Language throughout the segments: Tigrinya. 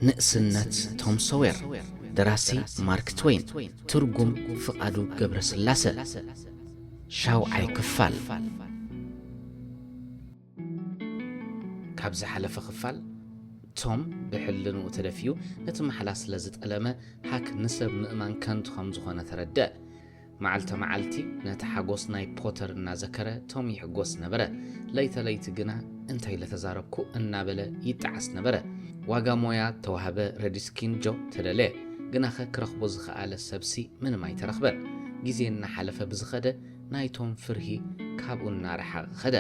ንእስነት ቶም ሶዌር፣ ደራሲ ማርክ ትዌይን፣ ትርጉም ፍቓዱ ገብረስላሰ፣ ሻውዓይ ክፋል። ካብ ዝሓለፈ ክፋል ቶም ብሕልንኡ ተደፊኡ ነቲ ማሕላ ስለ ዝጠለመ ሃክ ንሰብ ምእማን ከንቱ ከም ዝኾነ ተረድአ። መዓልተ መዓልቲ ነቲ ሓጎስ ናይ ፖተር እናዘከረ ቶም ይሕጎስ ነበረ። ለይተ ለይቲ ግና እንታይ ለተዛረብኩ እናበለ ይጠዓስ ነበረ። ዋጋ ሞያ ተዋህበ ረዲስኪን ጆብ ተደለየ። ግናኸ ክረኽቦ ዝኸኣለ ሰብሲ ምንም ኣይተረኽበን። ግዜ እናሓለፈ ብዝኸደ ናይቶም ፍርሂ ካብኡ እናረሓቐ ኸደ።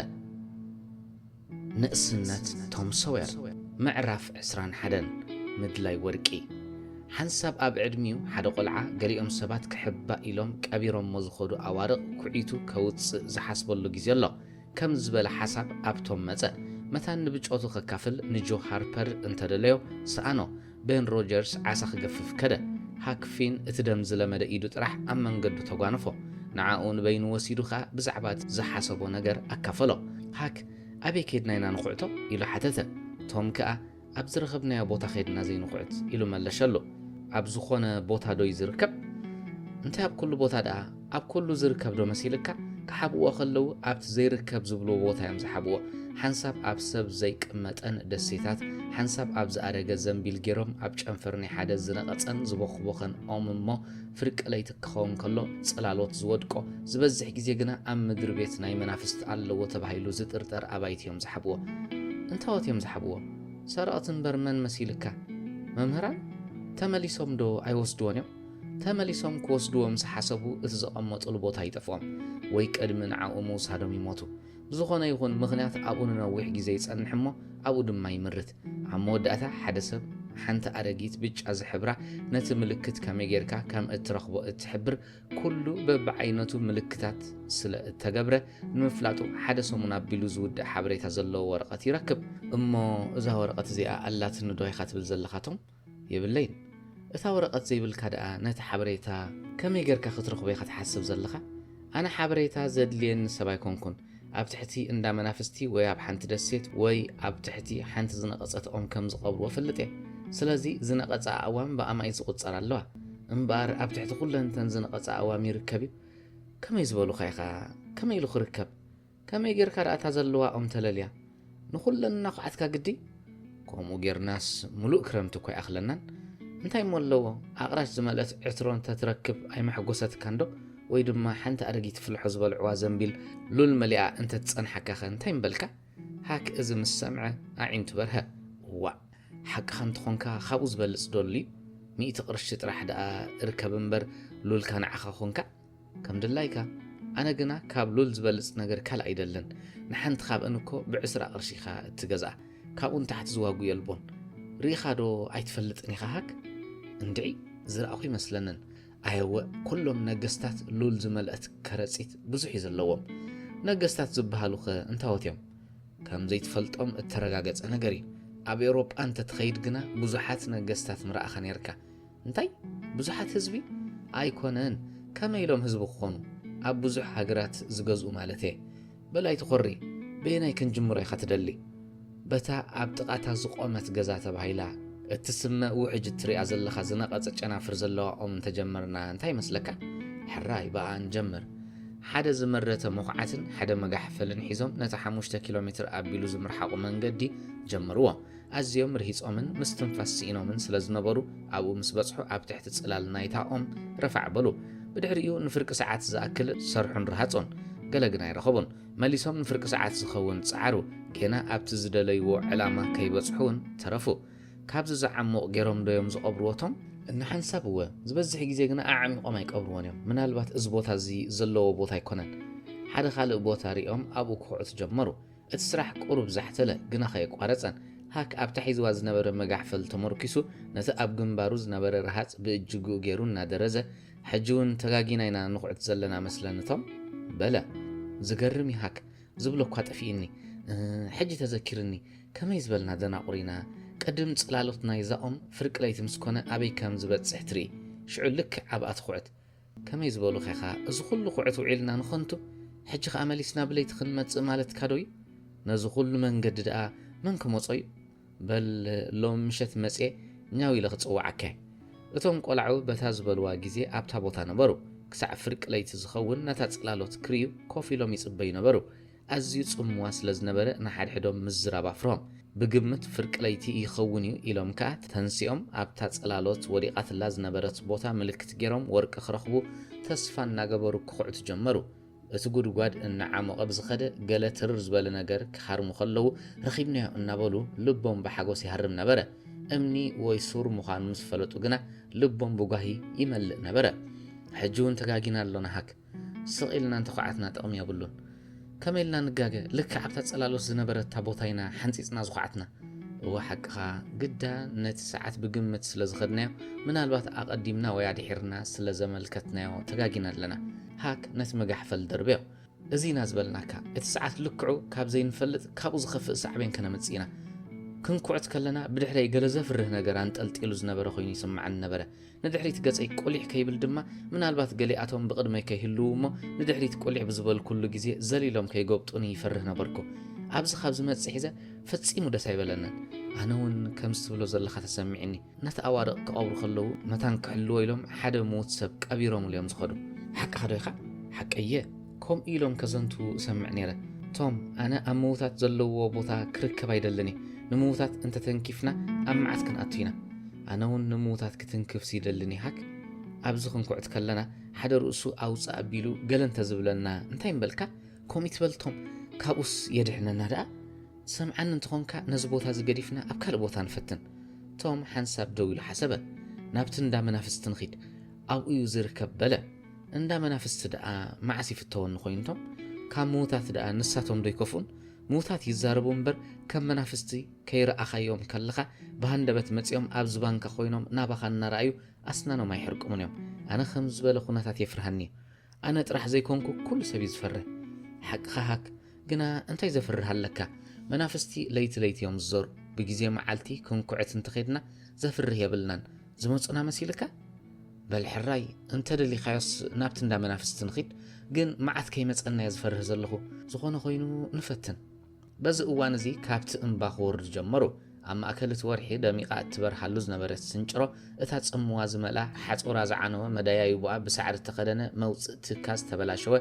ንእስነት ቶም ሶዌር ምዕራፍ ዕስራን ሓደን ምድላይ ወርቂ ሓንሳብ ኣብ ዕድሚኡ ሓደ ቆልዓ ገሊኦም ሰባት ክሕባእ ኢሎም ቀቢሮሞ ዝኸዱ ኣዋርቕ ኩዒቱ ከውጽእ ዝሓስበሉ ግዜ ኣሎ ከም ዝበለ ሓሳብ ኣብ ቶም መጸ። መታን ንብጾቱ ከካፍል ንጆ ሃርፐር እንተደለዮ ሰኣኖ። ቤን ሮጀርስ ዓሳ ክገፍፍ ከደ። ሃክ ፊን እቲ ደም ዝለመደ ኢዱ ጥራሕ ኣብ መንገዱ ተጓነፎ። ንዓኡ ንበይኑ ወሲዱ ከኣ ብዛዕባ እቲ ዝሓሰቦ ነገር ኣካፈሎ። ሃክ፣ ኣበይ ኬድና ኢና ንኹዕቶ? ኢሉ ሓተተ። ቶም ከኣ፣ ኣብ ዝረኸብናዮ ቦታ ኬድና ዘይንኹዕት? ኢሉ መለሸሉ። ኣብ ዝኾነ ቦታ ዶዩ ዝርከብ? እንታይ ኣብ ኩሉ ቦታ ደኣ? ኣብ ኩሉ ዝርከብ ዶ መሲልካ? ክሓብእዎ ከለዉ ኣብቲ ዘይርከብ ዝብልዎ ቦታ እዮም ዝሓብእዎ። ሓንሳብ ኣብ ሰብ ዘይቅመጠን ደሴታት፣ ሓንሳብ ኣብ ዝኣደገ ዘንቢል ጌሮም ኣብ ጨንፈር ናይ ሓደ ዝነቐጸን ዝቦኽቦኸን ኦም እሞ ፍርቂ ለይቲ ክኸውን ከሎ ጽላሎት ዝወድቆ፣ ዝበዝሕ ግዜ ግና ኣብ ምድሪ ቤት ናይ መናፍስቲ ኣለዎ ተባሂሉ ዝጥርጠር ኣባይቲ እዮም ዝሓብእዎ። እንታዎት እዮም ዝሓብእዎ? ሰረቕቲ እምበር መን መሲልካ? መምህራን? ተመሊሶም ዶ ኣይወስድዎን እዮም? ተመሊሶም ክወስድዎም ዝሓሰቡ እቲ ዘቐመጡሉ ቦታ ይጠፍኦም ወይ ቅድሚ ንዓኡ ምውሳዶም ይሞቱ። ብዝኾነ ይኹን ምኽንያት ኣብኡ ንነዊሕ ግዜ ይጸንሕ እሞ ኣብኡ ድማ ይምርት። ኣብ መወዳእታ ሓደ ሰብ ሓንቲ ኣረጊት ብጫ ዝሕብራ ነቲ ምልክት ከመይ ጌርካ ከም እትረኽቦ እትሕብር ኩሉ በብዓይነቱ ምልክታት ስለ እተገብረ ንምፍላጡ ሓደ ሰሙን ኣቢሉ ዝውድእ ሓበሬታ ዘለዎ ወረቐት ይረክብ። እሞ እዛ ወረቐት እዚኣ ኣላትኒዶ ኢኻ ትብል ዘለኻቶም? የብለይን እታ ወረቀት ዘይብልካ ደኣ ነቲ ሓበሬታ ከመይ ገርካ ክትረኽቦ ኢኻ ትሓስብ ዘለኻ ኣነ ሓበሬታ ዘድልየኒ ሰብ ኣይኮንኩን ኣብ ትሕቲ እንዳ መናፍስቲ ወይ ኣብ ሓንቲ ደሴት ወይ ኣብ ትሕቲ ሓንቲ ዝነቐጸት ኦም ከም ዝቐብርዎ እፈልጥ እየ ስለዚ ዝነቐጸ ኣእዋም ብኣማኢት ዝቑጸራ ኣለዋ እምበኣር ኣብ ትሕቲ ኩለን እተን ዝነቐጸ ኣእዋም ይርከብ እዩ ከመይ ዝበሉኻ ኢኻ ከመይ ኢሉ ክርከብ ከመይ ጌርካ ደኣ እታ ዘለዋ ኦም ተለልያ? ንኹለን እናዃዓትካ ግዲ? ከምኡ ጌርናስ ምሉእ ክረምቲ እኮ ኣይኣኽለናን። እንታይ እሞ ኣለዎ ኣቕራች ዝመልአት ዕትሮ እንተ ትረክብ ኣይመሐጎሰትካን ዶ? ወይ ድማ ሓንቲ ኣረጊት ፍልሖ ዝበልዕዋ ዘንቢል ሉል መሊኣ እንተ ትጸንሓካኸ እንታይ ምበልካ? ሃክ እዚ ምስ ሰምዐ ኣዒንቱ በርሀ። እዋእ! ሓቅኻ እንተ ኾንካ ካብኡ ዝበልጽ ዶ ኣሉ'ዩ? ሚእቲ ቅርሺ ጥራሕ ደኣ እርከብ እምበር ሉልካ ንዓኻ ኾንካ? ከም ድላይካ ኣነ ግና ካብ ሉል ዝበልጽ ነገር ካልእ ኣይደልን ንሓንቲ ካብእን እኮ ብዕስራ ቅርሺ ኢካ እትገዝኣ ካብኡ ንታሕቲ ዝዋጉ የልቦን ርኢካ ዶ ኣይትፈልጥን ኢካ ሃክ እንድዒ ዝረኣኩ ይመስለንን ኣየወ ኩሎም ነገስታት ሉል ዝመልአት ከረጺት ብዙሕ እዩ ዘለዎም ነገስታት ዝበሃሉ ከ እንታወት እዮም ከም ዘይትፈልጦም እተረጋገጸ ነገር እዩ ኣብ ኤውሮጳ እንተትኸይድ ግና ብዙሓት ነገስታት ምረኣኻ ነርካ እንታይ ብዙሓት ህዝቢ ኣይኮነን ከመይ ኢሎም ህዝቢ ክኾኑ ኣብ ብዙሕ ሃገራት ዝገዝኡ ማለት እየ በል ኣይትኾሪ በየናይ ክንጅምሮ ኢኻ ትደሊ በታ ኣብ ጥቓታ ዝቖመት ገዛ ተባሂላ እትስመ ውሕጅ እትሪኣ ዘለኻ ዝነቐጸ ጨናፍር ዘለዋ ኦም እንተጀመርና እንታይ ይመስለካ ሕራይ ብኣ ንጀምር ሓደ ዝመረተ መኹዓትን ሓደ መጋሕፈልን ሒዞም ነቲ ሓሙሽተ ኪሎ ሜትር ኣቢሉ ዝምርሓቑ መንገዲ ጀመርዎ ኣዝዮም ርሂጾምን ምስትንፋስ ስኢኖምን ስለ ዝነበሩ፣ ኣብኡ ምስ በጽሑ ኣብ ትሕቲ ጽላል ናይታ ኦም ረፋዕ በሉ። ብድሕሪኡ ንፍርቂ ሰዓት ዝኣክል ሰርሑን ረሃጹን። ገለ ግን ኣይረኸቡን። መሊሶም ንፍርቂ ሰዓት ዝኸውን ጸዓሩ። ጌና ኣብቲ ዝደለይዎ ዕላማ ከይበጽሑ ውን ተረፉ። ካብዚ ዝዓሙቕ ጌሮም ዶ ዮም ዝቐብርዎ ቶም? እንሓንሳብ እወ። ዝበዝሕ ግዜ ግና ኣዕሚቖም ኣይቀብርዎን ዮም። ምናልባት እዚ ቦታ እዚ ዘለዎ ቦታ ኣይኮነን። ሓደ ካልእ ቦታ ርእዮም ኣብኡ ክኹዕቱ ጀመሩ። እቲ ስራሕ ቁሩብ ዛሕተለ ግና ከየቋረጸን፣ ሃክ ኣብታ ሒዝዋ ዝነበረ መጋሕፈል ተሞርኪሱ ነቲ ኣብ ግንባሩ ዝነበረ ረሃጽ ብእጅግኡ ጌሩ እናደረዘ፣ ሕጂውን ተጋጊና ኢና ንኹዕት ዘለና መስለኒ'ቶም? በለ። ዝገርም'ዩ ሃክ፣ ዝብሎ'ኳ ጠፊኡኒ። እህ፣ ሕጂ ተዘኪርኒ፣ ከመይ ዝበልና ደናቑር ኢና፣ ቅድም ጽላሎት ናይዛ ኦም ፍርቂ ለይቲ ምስ ኮነ ኣበይ ከም ዝበጽሕ ትርኢ፣ ሽዑ ልክዕ ኣብኣ ትኹዕት። ከመይ ዝበሉ ዄኻ? እዚ ዅሉ ዅዕት ውዒልና ንኸንቱ፣ ሕጂ ኸኣ መሊስና ብለይቲ ኽንመጽእ ማለትካዶ እዩ? ነዚ ዅሉ መንገዲ ደኣ መን ክመጾ እዩ? በል ሎሚ ምሸት መጺኤ ኛው ኢለ ኽጽውዓካ እየ። እቶም ቈልዑ በታ ዝበልዋ ግዜ ኣብታ ቦታ ነበሩ። ክሳዕ ፍርቂ ለይቲ ዚኸውን ነታ ጽላሎት ክርእዩ ኮፍ ኢሎም ይጽበዩ ነበሩ። ኣዝዩ ጽምዋ ስለ ዝነበረ ንሓድሕዶም ምዝራብ ኣፍሮም። ብግምት ፍርቂ ለይቲ ይኸውን እዩ ኢሎም ከኣ ተንሲኦም ኣብታ ጽላሎት ወዲቓትላ ዝነበረት ቦታ ምልክት ጌሮም ወርቂ ክረኽቡ ተስፋ እናገበሩ ክኹዕቱ ጀመሩ። እቲ ጉድጓድ እናዓሞቐ ብዝኸደ ገለ ትርር ዝበለ ነገር ክሃርሙ ከለዉ ረኺብናዮ እናበሉ ልቦም ብሓጎስ ይሃርም ነበረ። እምኒ ወይ ሱር ምዃኑ ምስ ፈለጡ ግና ልቦም ብጓሂ ይመልእ ነበረ። ሕጂ እውን ተጋጊና ኣሎና ሃክ! ስቕ ኢልና እንተዃዓትና ጥቕሚ የብሉን። ከመይ ኢልና ንጋገ ልክዕ ኣብታ ጽላሎት ዝነበረታ ቦታ ኢና ሓንጺጽና ዝዃዓትና። እወ ሓቅኻ፣ ግዳ ነቲ ሰዓት ብግምት ስለ ዝኸድናዮ ምናልባት ኣቐዲምና ወይ ኣድሒርና ስለ ዘመልከትናዮ ተጋጊና ኣለና። ሃክ ነቲ መጋሕፈል ደርበዮ። እዚ ኢና ዝበልናካ፣ እቲ ሰዓት ልክዑ ካብ ዘይንፈልጥ ካብኡ ዝኸፍእ ሳዕቤን ከነምጽእ ኢና። ክንኩዕት ከለና ብድሕረይ ገለ ዘፍርህ ነገር ኣንጠልጢሉ ዝነበረ ኮይኑ ይስምዓኒ ነበረ። ንድሕሪት ገጸይ ቁሊሕ ከይብል ድማ ምናልባት ገሊኣቶም ብቕድመይ ከይህልዉ እሞ ንድሕሪት ቁሊሕ ብዝበልኩሉ ግዜ ዘሊሎም ከይጎብጡኒ ይፈርህ ነበርኩ። ኣብዚ ካብ ዝመጽእ ሒዘ ፈጺሙ ደስ ኣይበለንን። ኣነ እውን ከምዚ ትብሎ ዘለኻ ተሰሚዕኒ። ነቲ ኣዋርቕ ክቐብሩ ከለዉ መታን ክሕልዎ ኢሎም ሓደ ምዉት ሰብ ቀቢሮምሉ እዮም ዝኸዱ። ሓቅኻዶ ኢኻ? ሓቀይ እየ። ከምኡ ኢሎም ከዘንቱ እሰምዕ ነይረ። ቶም፣ ኣነ ኣብ ምዉታት ዘለዉዎ ቦታ ክርከብ ኣይደልን እየ። ንምዉታት እንተ ተንኪፍና ኣብ መዓት ክንኣቱ ኢና። ኣነውን ንምዉታት ክትንክፍሲ ይደሊ ኒሃክ? ኣብዚ ክንኩዕት ከለና ሓደ ርእሱ ኣውጽእ ኣቢሉ ገለ እንተ ዝብለና እንታይ ምበልካ? ከምኡ ኣይትበል ቶም፣ ካብኡስ የድሕነና ደኣ። ትሰምዓኒ እንተ ኾንካ ነዚ ቦታ እዚ ገዲፍና ኣብ ካልእ ቦታ ንፈትን። ቶም ሓንሳብ ደው ኢሉ ሓሰበ። ናብቲ እንዳ መናፍስቲ ንኺድ። ኣብኡዩ ዝርከብ በለ። እንዳ መናፍስቲ ደኣ መዓስ ይፍተወኒ ኮይኑ እቶም ካብ ምዉታት ደኣ ንሳቶም ዶ ይከፍኡን ምዉታት ይዛረቡ እምበር ከም መናፍስቲ ከይረኣኻዮም ከለኻ ብሃንደበት መጺኦም ኣብ ዝባንካ ኮይኖም ናባኻ እናረኣዩ ኣስናኖም ኣይሕርቅሙን እዮም ኣነ ከም ዝበለ ኩነታት የፍርሃኒ እዩ ኣነ ጥራሕ ዘይኮንኩ ኩሉ ሰብ እዩ ዝፈርህ ሓቅኻ ሃክ ግና እንታይ ዘፍርህ ኣለካ መናፍስቲ ለይቲ ለይቲ እዮም ዝዘሩ ብግዜ መዓልቲ ክንኩዕት እንተኸድና ዘፍርህ የብልናን ዝመፁና መሲልካ በል ሕራይ እንተ ደሊኻዮስ ናብቲ እንዳ መናፍስቲ ንኺድ፣ ግን መዓት ከይመጸናየ ዝፈርህ ዘለኹ፣ ዝኾነ ኮይኑ ንፈትን። በዚ እዋን እዚ ካብቲ እምባ ክወርዱ ጀመሩ። ኣብ ማእከል እቲ ወርሒ ደሚቓ እትበርሃሉ ዝነበረት ስንጭሮ፣ እታ ጽምዋ ዝመልኣ፣ ሓጹራ ዝዓነወ፣ መደያይቦኣ ብሳዕሪ እተኸደነ፣ መውጽእ ትካ ዝተበላሸወ፣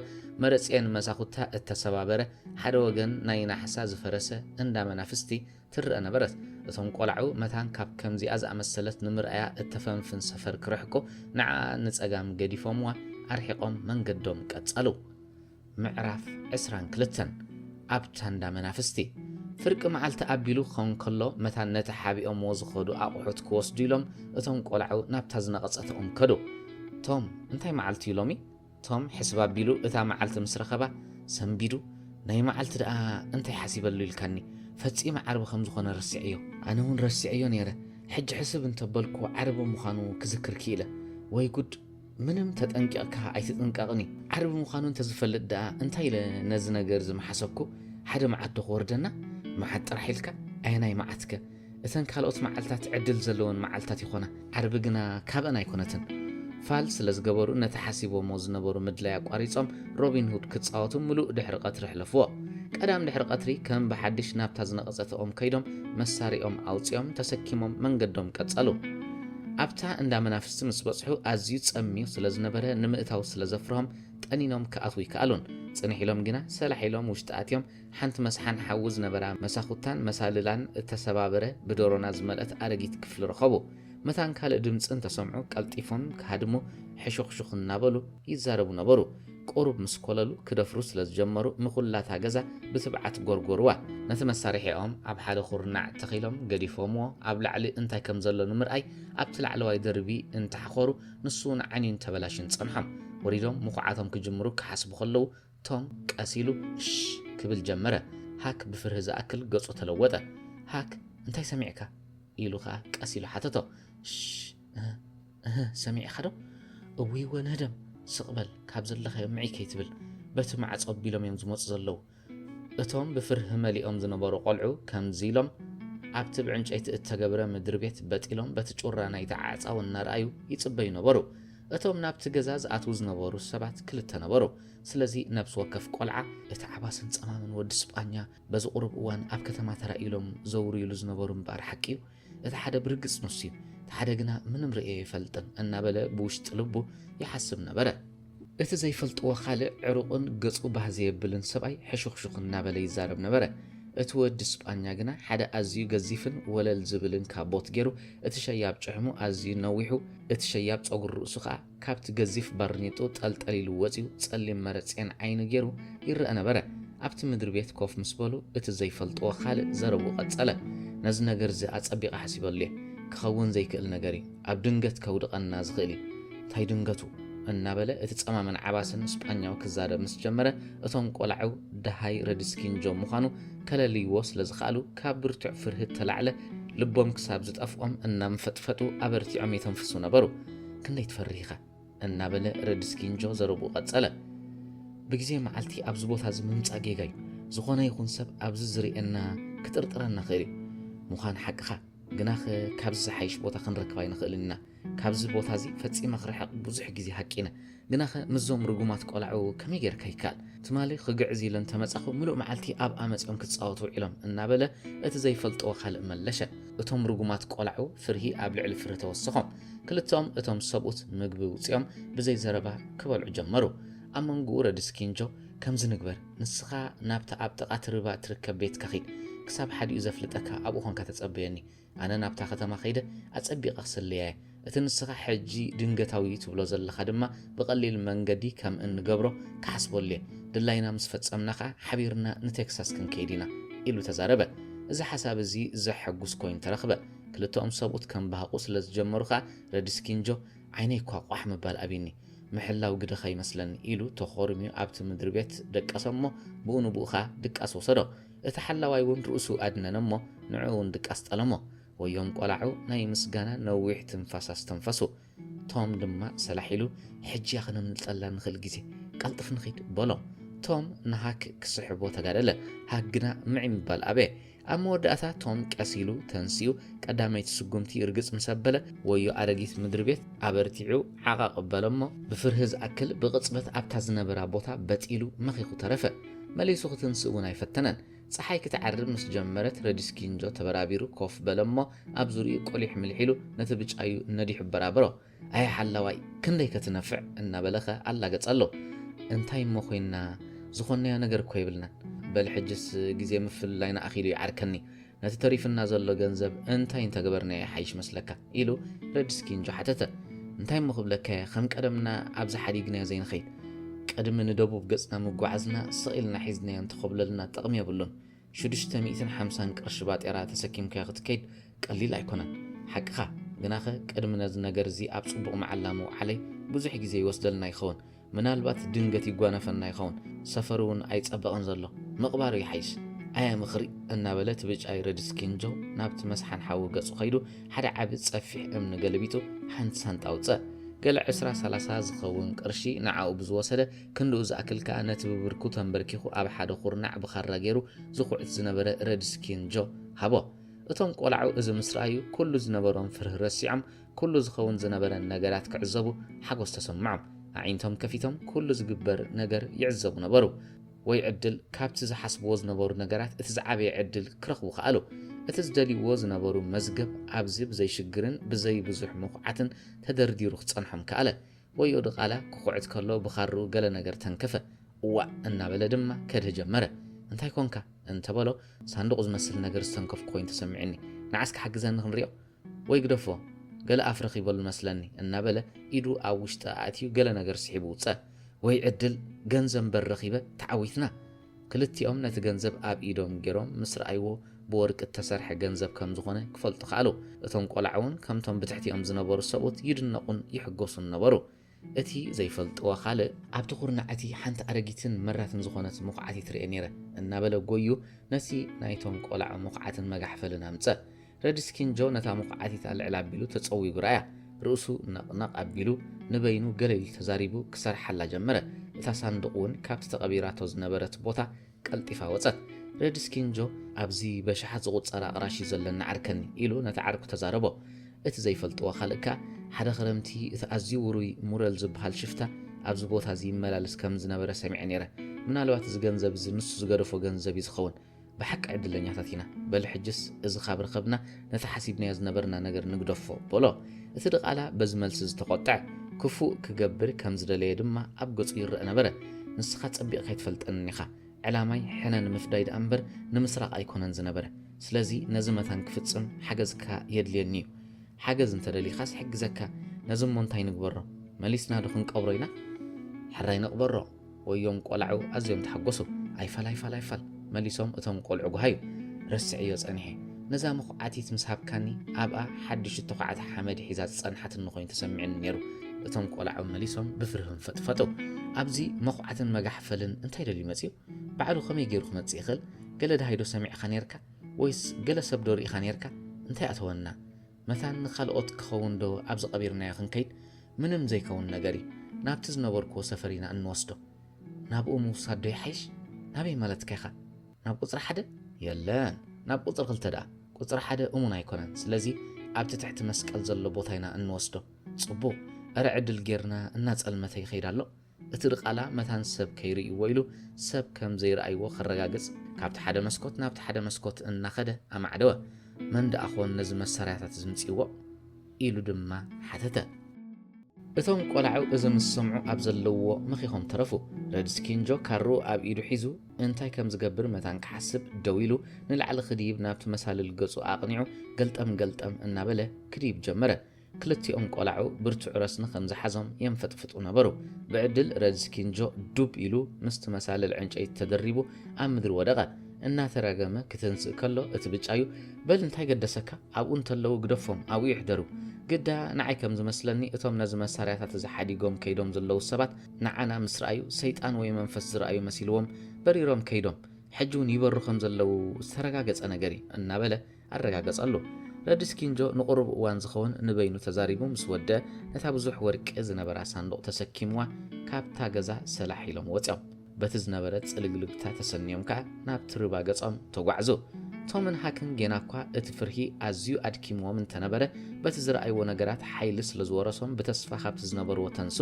መረጽኤን መሳኹታ እተሰባበረ፣ ሓደ ወገን ናይ ናሕሳ ዝፈረሰ እንዳ መናፍስቲ ትረኣ ነበረት። እቶም ቆላዑ መታን ካብ ከምዚኣ ዝኣመሰለት ንምርኣያ እተፈንፍን ሰፈር ክርሕቁ ንዓኣ ንጸጋም ገዲፎምዋ ኣርሒቖም መንገዶም ቀጸሉ። ምዕራፍ ዕስራን ክልተን ኣብታ እንዳ መናፍስቲ። ፍርቂ መዓልቲ ኣቢሉ ክኸውን ከሎ መታን ነቲ ሓቢኦምዎ ዝኸዱ ኣቑሑት ክወስዱ ኢሎም እቶም ቆላዑ ናብታ ዝነቐጸት ኦም ከዱ። ቶም እንታይ መዓልቲ'ዩ ሎሚ? ቶም ሕስብ ኣቢሉ እታ መዓልቲ ምስ ረኸባ ሰንቢዱ፣ ናይ መዓልቲ ደኣ እንታይ ሓሲበሉ ኢልካኒ፣ ፈጺመ ዓርቢ ከም ዝኾነ ረሲዐዮ። ኣነ ውን ረሲዐዮ ነይረ፣ ሕጂ ሕስብ እንተበልኩ ዓርቢ ምዃኑ ክዝክር ክኢለ። ወይ ጉድ! ምንም ተጠንቂቕካ ኣይትጥንቀቕን እዩ። ዓርቢ ምዃኑ እንተዝፈልጥ ደኣ እንታይ ኢለ ነዚ ነገርዚ ምሓሰብኩ፣ ሓደ መዓት ዶ ክወርደና፣ መዓት ጥራሕ ኢልካ፣ ኣየናይ መዓትከ? እተን ካልኦት መዓልታት ዕድል ዘለወን መዓልታት ይኾና፣ ዓርቢ ግና ካብኣን ኣይኮነትን። ፋል ስለ ዝገበሩ ነቲ ሓሲቦምዎ ዝነበሩ ምድላይ ኣቋሪጾም ሮቢን ሁድ ክጻወቱ ምሉእ ድሕሪ ቀትሪ ኣሕለፍዎ። ቀዳም ድሕሪ ቀትሪ ከም ብሓድሽ ናብታ ዝነቐጸት ኦም ከይዶም መሳርያኦም ኣውጺኦም ተሰኪሞም መንገዶም ቀጸሉ። ኣብታ እንዳ መናፍስቲ ምስ በጽሑ ኣዝዩ ጸምዩ ስለ ዝነበረ ንምእታው ስለ ዘፍርሆም ጠኒኖም ክኣትዉ ኣይከኣሉን። ጽንሕ ኢሎም ግና ሰላሕ ኢሎም ውሽጢ ኣትዮም ሓንቲ መስሓን ሓዊ ዝነበራ መሳኹታን መሳልላን እተሰባበረ ብዶሮና ዝመልአት ኣረጊት ክፍሊ ረኸቡ። መታን ካልእ ድምጺ እንተ ሰምዑ ቀልጢፎም ክሃድሙ ሕሹኽሹኽ እናበሉ ይዛረቡ ነበሩ። ቁሩብ ምስ ኮለሉ ክደፍሩ ስለ ዝጀመሩ ንኹላ እታ ገዛ ብትብዓት ጎርጎሩዋ። ነቲ መሳርሒኦም ኣብ ሓደ ኩርናዕ ተኺሎም ገዲፎምዎ ኣብ ላዕሊ እንታይ ከም ዘሎ ንምርኣይ ኣብቲ ላዕለዋይ ደርቢ እንተ ሓኾሩ ንሱውን ዓንዩን ተበላሽዩን ጸንሖም። ወሪዶም ምኹዓቶም ክጅምሩ ክሓስቡ ከለዉ ቶም ቀስ ኢሉ እሽ ክብል ጀመረ። ሃክ ብፍርሂ ዝኣክል ገጹ ተለወጠ። ሃክ እንታይ ሰሚዕካ? ኢሉ ከኣ ቀስ ኢሉ ሓተቶ። እሽ እህ እህ ሰሚዕካዶ? እውይወ ንህደም ስቕ በል ካብ ዘለኻዮ ምዕይ ከይትብል በቲ ማዕጾ ኣቢሎም እዮም ዝመጹ ዘለዉ። እቶም ብፍርሂ መሊኦም ዝነበሩ ቆልዑ ከምዚ ኢሎም ኣብቲ ብዕንጨይቲ እተገብረ ምድሪ ቤት በጥ ኢሎም በቲ ጩራ ናይቲ ዓዕጻው እናርኣዩ ይጽበዩ ነበሩ። እቶም ናብቲ ገዛ ዝኣትዉ ዝነበሩ ሰባት ክልተ ነበሩ። ስለዚ ነብሲ ወከፍ ቆልዓ፣ እቲ ዓባስን ጸማምን ወዲ ስጳኛ በዚ ቁሩብ እዋን ኣብ ከተማ ተራእዩ ኢሎም ዘውርዩሉ ዝነበሩ ምባር ሓቂ'ዩ። እቲ ሓደ ብርግጽ ንሱ'ዩ፣ እቲ ሓደ ግና ምንም ርእየዮ ኣይፈልጥን እናበለ ብውሽጢ ልቡ ይሓስብ ነበረ። እቲ ዘይፈልጥዎ ካልእ ዕሩቕን ገጹ ባህ ዘየብልን ሰብኣይ ሕሹኽሹኽ እናበለ ይዛረብ ነበረ። እቲ ወዲ ስጳኛ ግና ሓደ ኣዝዩ ገዚፍን ወለል ዝብልን ካቦት ጌሩ፣ እቲ ሸያብ ጭሕሙ ኣዝዩ ነዊሑ፣ እቲ ሸያብ ጸጉሪ ርእሱ ከኣ ካብቲ ገዚፍ ባርኔጥኡ ጠልጠል ኢሉ ወጺኡ ጸሊም መረጼን ዓይኒ ጌሩ ይረኣ ነበረ። ኣብቲ ምድሪ ቤት ኮፍ ምስ በሉ እቲ ዘይፈልጥዎ ካልእ ዘረብኡ ቀጸለ። ነዚ ነገር እዚ ኣጸቢቐ ሓሲበሉ እየ። ክኸውን ዘይክእል ነገር እዩ። ኣብ ድንገት ከውድቐና ዝኽእል እዩ። እንታይ ድንገቱ? እናበለ እቲ ጸማምን ዓባስን ስጳኛዊ ክዛረብ ምስ ጀመረ እቶም ቆላዑ ደሃይ ረድስኪንጆ ምዃኑ ከለልይዎ ስለ ዝኸኣሉ ካብ ብርቱዕ ፍርሂ እተላዕለ ልቦም ክሳብ ዝጠፍኦም እናንፈጥፈጡ ኣበርቲዖም የተንፍሱ ነበሩ። ክንደይ ትፈርህ ኢኻ? እናበለ ረድስኪንጆ ዘረብኡ ቀጸለ። ብግዜ መዓልቲ ኣብዚ ቦታ እዚ ምምጻእ ጌጋ እዩ። ዝኾነ ይኹን ሰብ ኣብዚ ዝርእየና ክጥርጥረና ይኽእል እዩ። ምዃን ሓቅኻ። ግናኸ ካብዚ ዝሓይሽ ቦታ ክንረክብ ኣይንኽእልን ኢና። ካብዚ ቦታ እዚ ፈጺመ ክርሕቕ ብዙሕ ግዜ ሃቂነ። ግናኸ ምስዞም ርጉማት ቆላዑ ከመይ ጌርካ ይከኣል? ትማሊ ክግዕዝ ኢለ እንተ መጻኹ ምሉእ መዓልቲ ኣብኣ መጺኦም ክጻወቱ ውዒሎም እናበለ እቲ ዘይፈልጥዎ ካልእ መለሸ። እቶም ርጉማት ቆላዑ ፍርሂ ኣብ ልዕሊ ፍርሂ ተወሰኾም። ክልተኦም እቶም ሰብኡት ምግቢ ውጺኦም ብዘይ ዘረባ ክበልዑ ጀመሩ። ኣብ መንጉኡ ረድስኪንጆ ከምዚ ንግበር! ንስኻ ናብታ ኣብ ጥቓ እቲ ርባ እትርከብ ቤትካ ኺድ። ክሳብ ሓዲኡ ዘፍልጠካ ኣብኡ ዀንካ ተጸበየኒ። ኣነ ናብታ ኸተማ ኸይደ ኣጸቢቐ ኽስልያ እየ፣ እቲ ንስኻ ሕጂ ድንገታዊ እዩ ትብሎ ዘለኻ ድማ ብቐሊል መንገዲ ኸም እንገብሮ ክሓስበሉ እየ። ድላይና ምስ ፈጸምና ኸኣ ሓቢርና ንቴክሳስ ክንከይድ ኢና ኢሉ ተዛረበ። እዚ ሓሳብ እዚ ዜሐጕስ ኰይኑ ተረኽበ። ክልተኦም ሰብኡት ኬምባህቑ ስለ ዝጀመሩ ኸኣ ረድስኪን ጆ ዓይነይ እኳ ቋሕ ምባል ኣብዩኒ። ምሕላው ግደኻ ይመስለኒ ኢሉ ተኾርምዩ ኣብቲ ምድሪቤት ደቀሰሞ ብኡ ንብኡ ከኣ ድቃስ ወሰዶ። እቲ ሓላዋይ እውን ርእሱ ኣድነነሞ ንዕኡ እውን ድቃስ ጠለሞ። ወዮም ቆላዑ ናይ ምስጋና ነዊሕ ትንፋስ ኣስተንፈሱ። ቶም ድማ ሰላሕ ኢሉ ሕጂያ ክነምልጠላ ንኽእል ግዜ ቀልጥፍ ንኺድ በሎ። ቶም ንሃክ ክስሕቦ ተጋደለ ሃክ ግና ምዒ ምባል ኣበየ። ኣብ መወዳእታ ቶም ቀስ ኢሉ ተንሲኡ ቀዳመይቲ ስጉምቲ ርግጽ ምስ ኣበለ ወዮ ኣረጊት ምድሪ ቤት ኣበርቲዑ ዓቐቕ በለ'ሞ ብፍርሂ ዝኣክል ብቕጽበት ኣብታ ዝነበራ ቦታ በጥ ኢሉ መኺኹ ተረፈ። መሊሱ ክትንስእ እውን ኣይፈተነን። ጸሓይ ክትዓርብ ምስ ጀመረት ረዲስኪንጆ ተበራቢሩ ኮፍ በለ'ሞ ኣብ ዙርይኡ ቁሊሕ ምልሕ ኢሉ ነቲ ብጫዩ ነዲሑ ኣበራበሮ። ኣየ ሓላዋይ ክንደይ ከ ትነፍዕ እናበለ ከ ኣላገጸሎ። እንታይ እሞ ኮይንና ዝኾንናዮ ነገር እኮ የብልናን። በል ሕጅስ ግዜ ምፍልላይና ኣኺሉ ይዓርከኒ። ነቲ ተሪፍና ዘሎ ገንዘብ እንታይ እንተ ገበርናዮ ይሓይሽ መስለካ? ኢሉ ረድስኪንጆ ሓተተ። እንታይ እሞ ክብለካ እየ ከም ቀደምና ኣብዚ ሓዲግናዮ ዘይንኸይድ። ቅድሚ ንደቡብ ገጽና ምጉዓዝና ስቕ ኢልና ሒዝናዮ እንተ ኾብለልና ጥቕሚ የብሉን። ሽዱሽተ ሚእትን ሓምሳን ቅርሺ ባጤራ ተሰኪምካዮ ክትከይድ ቀሊል ኣይኮነን ሓቅኻ ግናኸ ቅድሚ ነዚ ነገር እዚ ኣብ ጽቡቕ መዓላ ምውዓለይ ብዙሕ ግዜ ይወስደልና ይኸውን ምናልባት ድንገት ይጓነፈና ይኸውን ሰፈሩ እውን ኣይጸበቐን ዘሎ ምቕባሩ ይሓይሽ ኣያ ምኽሪ እናበለት ብጫይ ረድስ ኪንጆ ናብቲ መስሓን ሓዊ ገጹ ከይዱ ሓደ ዓቢ ጸፊሕ እምኒ ገለቢጡ ሓንቲ ሳንጣ ውጸእ ገለ ዕስራ ሰላሳ ዝኸውን ቅርሺ ንዓኡ ብዝወሰደ ክንድኡ ዝኣክል ከኣ ነቲ ብብርኩ ተምበርኪኹ ኣብ ሓደ ኩርናዕ ብኻራ ገይሩ ዝኹዕት ዝነበረ ረድስኪን ጆ ሃቦ። እቶም ቆላዑ እዚ ምስ ረኣዩ ኩሉ ዝነበሮም ፍርህ ረሲዖም ኩሉ ዝኸውን ዝነበረን ነገራት ክዕዘቡ ሓጎስ ተሰምዖም። ኣዒንቶም ከፊቶም ኩሉ ዝግበር ነገር ይዕዘቡ ነበሩ። ወይ ዕድል ካብቲ ዝሓስብዎ ዝነበሩ ነገራት እቲ ዝዓበየ ዕድል ክረኽቡ ከኣሉ። እቲ ዝደልይዎ ዝነበሩ መዝገብ ኣብዚ ብዘይ ሽግርን ብዘይ ብዙሕ መኹዓትን ተደርዲሩ ክጸንሖም ከኣለ። ወዮ ድቓላ ክኹዕት ከሎ ብኻርኡ ገለ ነገር ተንከፈ። እዋእ! እናበለ ድማ ከድህ ጀመረ። እንታይ ኰንካ? እንተ በሎ፣ ሳንዱቕ ዝመስል ነገር ዝተንከፍኩ ኰይኑ ተሰሚዑኒ። ንዓ እስከ ሓግዘኒ ክንሪኦ። ወይ ግደፎ! ገለ ኣፍ ረኺበሉ መስለኒ። እናበለ ኢዱ ኣብ ውሽጢ ኣእትዩ ገለ ነገር ስሒቡ ውጸ። ወይ ዕድል! ገንዘብ እምበር ረኺበ፣ ተዓዊትና! ክልቲኦም ነቲ ገንዘብ ኣብ ኢዶም ገይሮም ምስ ረኣይዎ ብወርቂ እተሰርሐ ገንዘብ ከም ዝዀነ ኪፈልጡ ከኣሉ። እቶም ቈልዓ እውን ከምቶም ብትሕቲኦም ዝነበሩ ሰብኡት ይድነቑን ይሕጐሱን ነበሩ። እቲ ዘይፈልጥዎ ኻልእ፣ ኣብቲ ኵርናዕ እቲ ሓንቲ ኣረጊትን መራትን ዝዀነት ምዅዓቲት ርእየ ነይረ እናበለ ጐይዩ ነቲ ናይቶም ቈልዓ ምዅዓትን መጋሕፈልን ኣምጽኣ። ረድስኪን ጆ ነታ ምኹዓቲታ ልዕል ኣቢሉ ተጸዊጉ ረኣያ። ርእሱ ነቕነቕ ኣቢሉ ንበይኑ ገለ ኢሉ ተዛሪቡ ክሰርሓላ ጀመረ። እታ ሳንዱቕ እውን ካብቲ ተቐቢራቶ ዝነበረት ቦታ ቀልጢፋ ወጸት። ረድስኪን ጆ ኣብዚ በሽሓት ዝቑጸር ኣቕራሽ እዩ ዘለኒ ዓርከኒ ኢሉ ነቲ ዓርኩ ተዛረቦ። እቲ ዘይፈልጥዎ ካልእ ከኣ ሓደ ክረምቲ እቲ ኣዝዩ ውሩይ ሙረል ዝበሃል ሽፍታ ኣብዚ ቦታ እዚ ይመላለስ ከም ዝነበረ ሰሚዐ ነይረ። ምናልባት እዚ ገንዘብ እዚ ንሱ ዝገደፎ ገንዘብ እዩ ዝኸውን። ብሓቂ ዕድለኛታት ኢና፣ በል ሕጅስ እዚ ካብ ረኸብና ነቲ ሓሲብናዮ ዝነበርና ነገር ንግደፎ፣ በሎ። እቲ ድቓላ በዚ መልሲ ዝተቖጥዐ፣ ክፉእ ክገብር ከም ዝደለየ ድማ ኣብ ገጹ ይረኣ ነበረ። ንስኻ ጸቢቕካ ኣይትፈልጠንን ኢኻ። ዕላማይ ሕነ ንምፍዳይ ደኣ እምበር ንምስራቕ ኣይኮነን ዝነበረ። ስለዚ ነዚ መታን ክፍጽም ሓገዝካ የድልየኒ እዩ። ሓገዝ እንተ ደሊኻስ እሕግዘካ። ነዚ እሞ እንታይ ንግበሮ? መሊስናዶ ክንቀብሮ ኢና? ሕራይ ንቕበሮ። ወዮም ቆላዑ ኣዝዮም ተሓጎሱ ኣይፋልኣይፋል ኣይፋል መሊሶም እቶም ቆልዑ ጉሃዩ ረስዔዮ ጸኒሐ ነዛ መኹዓቲት ምስ ሃብካኒ ኣብኣ ሓድሽ እተዃዓተ ሓመድ ሒዛ ዝጸንሓትኒ ኮይኑ ተሰሚዕኒ ነይሩ እቶም ቆላዑ መሊሶም ብፍርህም ፈጥፈጡ ኣብዚ መኹዓትን መጋሕፈልን እንታይ ደልዩ መጽዩ ባዕሉ ከመይ ገይሩ ክመጽእ ይኽእል ገለ ደሃይዶ ሰሚዕኻ ነይርካ ወይስ ገለ ሰብዶ ርኢኻ ነይርካ እንታይ ኣተወና መታን ንኻልኦት ክኸውን ዶ ኣብዚ ቀቢርናዮ ክንከይድ ምንም ዘይከውን ነገር እዩ ናብቲ ዝነበርክዎ ሰፈር ኢና እንወስዶ ናብኡ ምውሳድ ዶ ይሓይሽ ናበይ ማለትካ ኢኻ ናብ ቁጽሪ ሓደ የለን ናብ ቁጽሪ ክልተ ደኣ ቁጽሪ ሓደ እሙን ኣይኮነን ስለዚ ኣብቲ ትሕቲ መስቀል ዘሎ ቦታ ኢና እንወስዶ ጽቡቕ እረ ዕድል ጌርና እናጸልመተ ይኸይድ ኣሎ እቲ ድቓላ መታን ሰብ ከይርእይዎ ኢሉ ሰብ ከም ዘይረኣይዎ ከረጋግጽ ካብቲ ሓደ መስኮት ናብቲ ሓደ መስኮት እናኸደ ኣማዕደወ። መን ደኣ ኾን ነዚ መሳርያታት ዝምጺዎ? ኢሉ ድማ ሓተተ። እቶም ቆላዑ እዚ ምስ ሰምዑ ኣብ ዘለዉዎ መኺኾም ተረፉ። ረድስኪን ጆ ካርኡ ኣብ ኢዱ ሒዙ እንታይ ከም ዝገብር መታን ክሓስብ ደው ኢሉ ንላዕሊ ክድይብ ናብቲ መሳልል ገጹ ኣቕኒዑ ገልጠም ገልጠም እናበለ ክድይብ ጀመረ። ክልቲኦም ቆላዑ ብርቱዕ ረስኒ ከም ዝሓዞም የንፈጥፍጡ ነበሩ። ብዕድል ረድስ ኪንጆ ዱብ ኢሉ ምስቲ መሳልል ዕንጨይቲ ተደሪቡ ኣብ ምድሪ ወደቐ። እናተራገመ ክትንስእ ከሎ እቲ ብጫዩ በል እንታይ ገደሰካ ኣብኡ እንተለዉ ግደፎም ኣብኡ ይሕደሩ። ግዳ ንዓይ ከም ዝመስለኒ እቶም ነዚ መሳርያታት እዚ ሓዲጎም ከይዶም ዘለዉ ሰባት ንዓና ምስ ረኣዩ ሰይጣን ወይ መንፈስ ዝረኣዩ መሲልዎም በሪሮም ከይዶም ሕጂውን ይበሩ ከም ዘለዉ ዝተረጋገጸ ነገር እዩ እናበለ ኣረጋገጸሉ። ረድስ ኪንጆ ንቁሩብ እዋን ዝኸውን ንበይኑ ተዛሪቡ ምስ ወድእ ነታ ብዙሕ ወርቂ ዝነበራ ሳንዱቕ ተሰኪምዋ ካብታ ገዛ ሰላሕ ኢሎም ወጺኦም። በቲ ዝነበረ ጽልግልግታ ተሰንዮም ከኣ ናብቲ ርባ ገጾም ተጓዕዙ። ቶምን ሃክን ጌናኳ እቲ ፍርሂ ኣዝዩ ኣድኪምዎም እንተነበረ በቲ ዝረኣይዎ ነገራት ሓይሊ ስለ ዝወረሶም ብተስፋ ካብቲ ዝነበርዎ ተንሱ።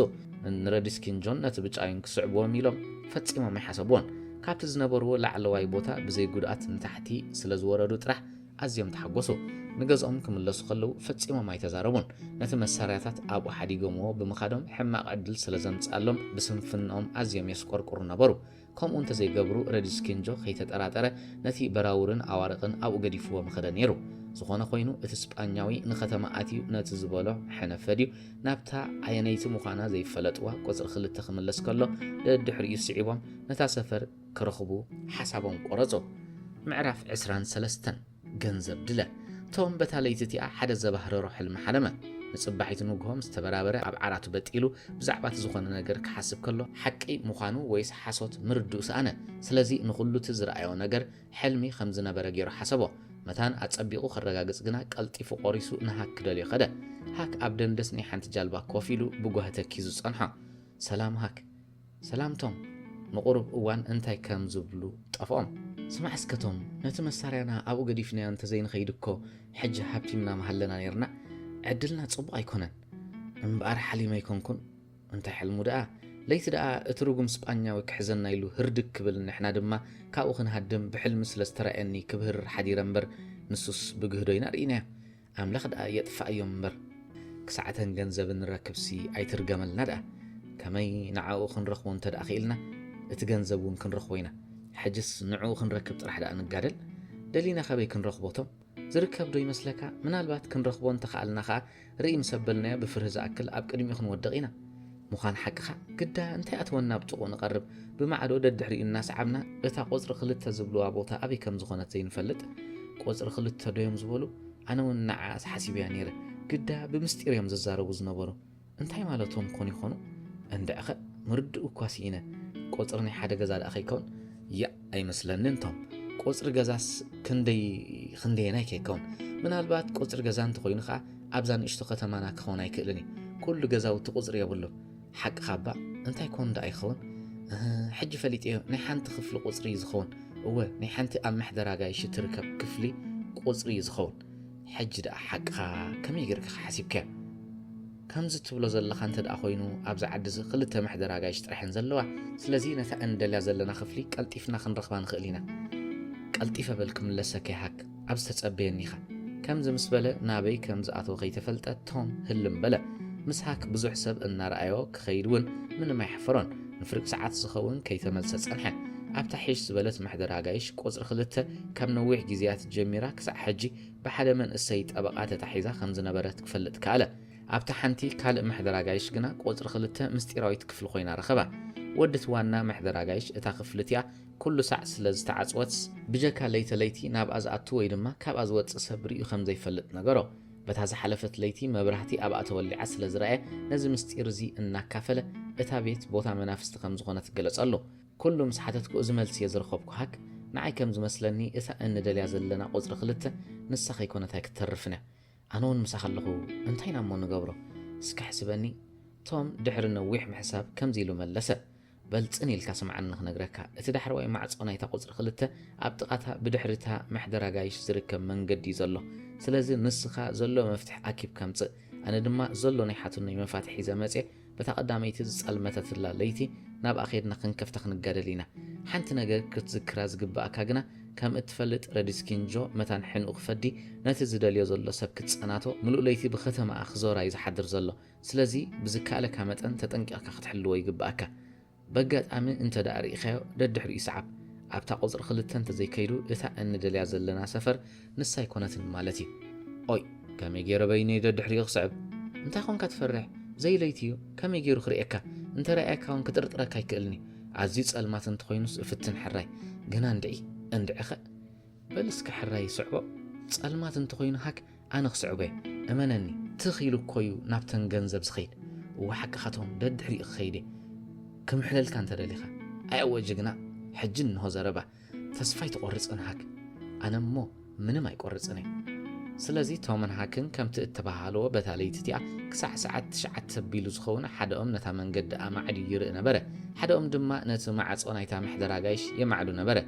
ንረድስ ኪንጆን ነቲ ብጫዩን ክስዕብዎም ኢሎም ፈጺሞም ኣይሓሰብዎን። ካብቲ ዝነበርዎ ላዕለዋይ ቦታ ብዘይ ጉድኣት ንታሕቲ ስለ ዝወረዱ ጥራሕ ኣዝዮም ተሓጐሱ። ንገዝኦም ክምለሱ ከለዉ ፈጺሞም ኣይተዛረቡን። ነቲ መሳርያታት ኣብኡ ሓዲጎምዎ ብምኻዶም ሕማቕ ዕድል ስለ ዘምጽኣሎም ብስንፍንኦም ኣዝዮም የስቈርቍሩ ነበሩ። ከምኡ እንተ ዘይገብሩ ረድስኪንጆ ከይተጠራጠረ ነቲ በራውርን ኣዋርቕን ኣብኡ ገዲፍዎ ምኸደ ነይሩ። ዝዀነ ዀይኑ እቲ ስጳኛዊ ንኸተማ ኣትዩ ነቲ ዝበሎ ሐነፈድዩ ናብታ ኣየነይቲ ምዃና ዘይፈለጥዋ ቁጽሪ ክልተ ክምለስ ከሎ ደድሕሪኡ ስዒቦም ነታ ሰፈር ክረኽቡ ሓሳቦም ቆረጹ። ምዕራፍ ዕስራን ሰለስተን ገንዘብ ድለ ቶም በታ ለይቲ እቲኣ ሓደ ዘባህረሮ ሕልሚ ሓለመ ንጽባሒቱ ንግሆ ምስ ተበራበረ ኣብ ዓራቱ በጢሉ ብዛዕባ እቲ ዝኾነ ነገር ክሓስብ ከሎ ሓቂ ምዃኑ ወይስ ሓሶት ምርድኡ ሰኣነ ስለዚ ንኹሉ እቲ ዝረኣዮ ነገር ሕልሚ ከም ዝነበረ ገይሩ ሓሰቦ። መታን ኣጸቢቑ ከረጋግጽ ግና ቀልጢፉ ቆሪሱ ንሃክ ክደልዮ ከደ። ሃክ ኣብ ደንደስ ናይ ሓንቲ ጃልባ ኮፍ ኢሉ ብጓሂ ተኪዙ ጸንሖ። ሰላም ሃክ። ሰላም ቶም። ንቑሩብ እዋን እንታይ ከም ዝብሉ ጠፍኦም። ስማዕ እስከ ቶም፣ ነቲ መሳርያና ኣብኡ ገዲፍናዮ እንተ ዘይንኸይድ እኮ ሕጂ ሃብቲምና ምሃለና ኔርና። ዕድልና ጽቡቕ ኣይኮነን። እምበኣር ሓሊመ ኣይኮንኩን። እንታይ ሕልሙ ደኣ ለይቲ ደኣ እቲ ርጉም ስጳኛዊ ክሕዘና ኢሉ ህርድግ ክብል ንሕና ድማ ካብኡ ክንሃድም ብሕልሚ ስለ ዝተራእየኒ ክብህርር ሓዲረ እምበር ንሱስ ብግህዶ ኢና ርኢናዮ ኣምላኽ ደኣ የጥፍኣዮም እምበር ክሳዕተን ገንዘብ እንረክብሲ ኣይትርገመልና ደኣ ከመይ ንዓኡ ክንረኽቦ እንተ ደኣ ክኢልና እቲ ገንዘብ እውን ክንረኽቦ ኢና ሕጅስ ንዕኡ ክንረክብ ጥራሕ ደኣ ንጋደል ደሊና ካበይ ክንረኽቦ እቶም ዝርከብ ዶ ይመስለካ? ምናልባት ክንረኽቦ እንተኸኣልና ከኣ ርእይ ምስ ኣበልናዮ ብፍርሂ ዝኣክል ኣብ ቅድሚኡ ክንወድቕ ኢና። ምዃን ሓቅኻ ግዳ እንታይ ኣተወና ኣብ ጥቕኡ ንቐርብ ብማዕዶ ደድሕሪኡ እናሰዓብና እታ ቁጽሪ ክልተ ዝብልዋ ቦታ ኣበይ ከም ዝኾነት ዘይንፈልጥ? ቁጽሪ ክልተ ዶዮም ዝበሉ? ኣነውን ንዓኣስ ሓሲበያ ነይረ ግዳ ብምስጢር እዮም ዝዛረቡ ዝነበሩ። እንታይ ማለቶም ኮን ይኾኑ እንድዕኸ ምርድኡ እኳ ስኢነ ቆጽሪ ናይ ሓደ ገዛ ደኣ ከይከውን ያእ ኣይመስለንን ቶም ቆጽሪ ገዛስ ክንደይ ክንደየናይ ከይከውን ምናልባት ቆጽሪ ገዛ እንተኾይኑ ከዓ ኣብዛ ንእሽቶ ከተማና ክኸውን ኣይክእልን እዩ ኩሉ ገዛውቲ ቁፅሪ የብሉ ሓቂ ካባ እንታይ ኮን ዳኣ ይኸውን ሕጂ ፈሊጥ እዮ ናይ ሓንቲ ክፍሊ ቁፅሪ እዩ ዝኸውን እወ ናይ ሓንቲ ኣብ መሕደራ ጋይሽ ትርከብ ክፍሊ ቁፅሪ እዩ ዝኸውን ሕጂ ደኣ ሓቅኻ ከመይ ጌርካ ሓሲብካዮ? ከምዚ ትብሎ ዘለኻ እንተ ደኣ ኮይኑ ኣብዚ ዓዲ እዚ ክልተ መሕደር ኣጋይሽ ጥራሕ እየን ዘለዋ። ስለዚ ነታ እንደልያ ዘለና ክፍሊ ቀልጢፍና ክንረኽባ ንኽእል ኢና። ቀልጢፈ በል ክምለሰካ ይሃክ፣ ኣብዚ ተጸበየኒ ኢኻ። ከምዚ ምስ በለ ናበይ ከም ዝኣተወ ከይተፈልጠ ቶም ህልም በለ። ምስ ሃክ ብዙሕ ሰብ እናረኣዮ ክኸይድ እውን ምንም ኣይሓፈሮን። ንፍርቂ ሰዓት ዝኸውን ከይተመልሰ ጸንሐ። ኣብታ ሒሽ ዝበለት ማሕደር ኣጋይሽ ቁጽሪ ክልተ ካብ ነዊሕ ግዜያት ጀሚራ ክሳዕ ሕጂ ብሓደ መንእሰይ ጠበቓ ተታሒዛ ከም ዝነበረት ክፈልጥ ከኣለ። ኣብታ ሓንቲ ካልእ ማሕደር ኣጋይሽ ግና ቁጽሪ ክልተ ምስጢራዊት ክፍሊ ኮይና ረኸባ። ወድ'ቲ ዋና ማሕደር ኣጋይሽ እታ ክፍሊ እቲኣ ኩሉ ሳዕ ስለ ዝተዓጽወትስ፣ ብጀካ ለይተ ለይቲ ናብኣ ዝኣቱ ወይ ድማ ካብኣ ዝወጽእ ሰብ ርእዩ ከም ዘይፈልጥ ነገሮ። በታ ዝሓለፈት ለይቲ መብራህቲ ኣብኣ ተወሊዓ ስለ ዝረኣየ ነዚ ምስጢር እዚ እናካፈለ እታ ቤት ቦታ መናፍስቲ ከም ዝኾነት ገለጸሉ። ኩሉ ምስ ሓተትኩ እዚ መልሲ እየ ዝረኸብኩ ሃክ ንዓይ ከም ዝመስለኒ እታ እንደልያ ዘለና ቁጽሪ ክልተ ንሳ ከይኮነት ኣይክተርፍን እያ። ኣነ ውን ምሳኻ ኣለኹ እንታይ ኢና እሞ ንገብሮ እስኪ ኣሕስበኒ ቶም ድሕሪ ነዊሕ ምሕሳብ ከምዚ ኢሉ መለሰ። በል ጽን ኢልካ ስምዓኒ ክነግረካ፣ እቲ ዳሕረዋይ ማዕጾ ናይታ ቁጽሪ ክልተ ኣብ ጥቓ'ታ ብድሕሪ እታ መሕደር ኣጋይሽ ዝርከብ መንገዲ'ዩ ዘሎ። ስለዚ ንስኻ ዘሎ መፍትሕ ኣኪብካ ምጽእ። ኣነ ድማ ዘሎ ናይ ሓትኖይ መፋትሕ ሒዘ መጽየ በታ ቀዳመይቲ ዝጸልመተትላ ለይቲ ናብኣ ኬድና ክንከፍታ ክንጋደል ኢና። ሓንቲ ነገር ክትዝክራ ዝግብኣካ ግና ከም እትፈልጥ ረዲስኪንጆ መታን ሕንኡ ክፈዲ ነቲ ዝደልዮ ዘሎ ሰብ ክጸናቶ ምሉእ ለይቲ ብኸተማኣ ክዞር'ዩ ዝሓድር ዘሎ። ስለዚ ብዝከኣለካ መጠን ተጠንቂቕካ ክትሕልዎ ይግበኣካ። በጋጣሚ እንተድኣ ርኢኻዮ ደድሕሪኡ ስዓብ። ኣብታ ቁጽሪ ክልተ እንተዘይከይዱ እታ እንደልያ ዘለና ሰፈር ንሳ ኣይኮነትን ማለት እዩ። ኦይ! ከመይ ገይረ በይነይ ደድሕሪኡ ክስዕብ? እንታይ ኮንካ ትፈርሕ? ዘይለይቲ እዩ፣ ከመይ ገይሩ ክርእየካ? እንተረኣየካ እውን ክጥርጥረካ ኣይክእልን እዩ። ኣዝዩ ጸልማት እንተኾይኑስ እፍትን ሕራይ። ግና እንድዒ! እንድዒኸ! በል እስከ ሕራይ ስዕቦ። ጸልማት እንተኾይኑ ሃክ ኣነ ክስዕቦየ እመነኒ ትኽ ኢሉ እኮዩ ናብተን ገንዘብ ዝኸይድ እወ ሓቅኻ ትኹን ደድሕሪኡ ክኸይድየ ክምሕለልካ እንተደሊኻ ኣየወ ጅግና ሕጂ እንሆ ዘረባ ተስፋ ኣይትቆርጽን ሃክ ኣነ እሞ ምንም ኣይቆርጽንየ ስለዚ ቶምን ሃክን ከምቲ እተባሃልዎ በታ ለይቲ እቲኣ ክሳዕ ሰዓት ትሽዓተ ኣቢሉ ዝኸውን ሓደኦም ነታ መንገዲ ኣማዕድዩ ይርኢ ነበረ ሓደኦም ድማ ነቲ ማዕጾ ናይታ ምሕደራ ጋይሽ የማዕዱ ነበረ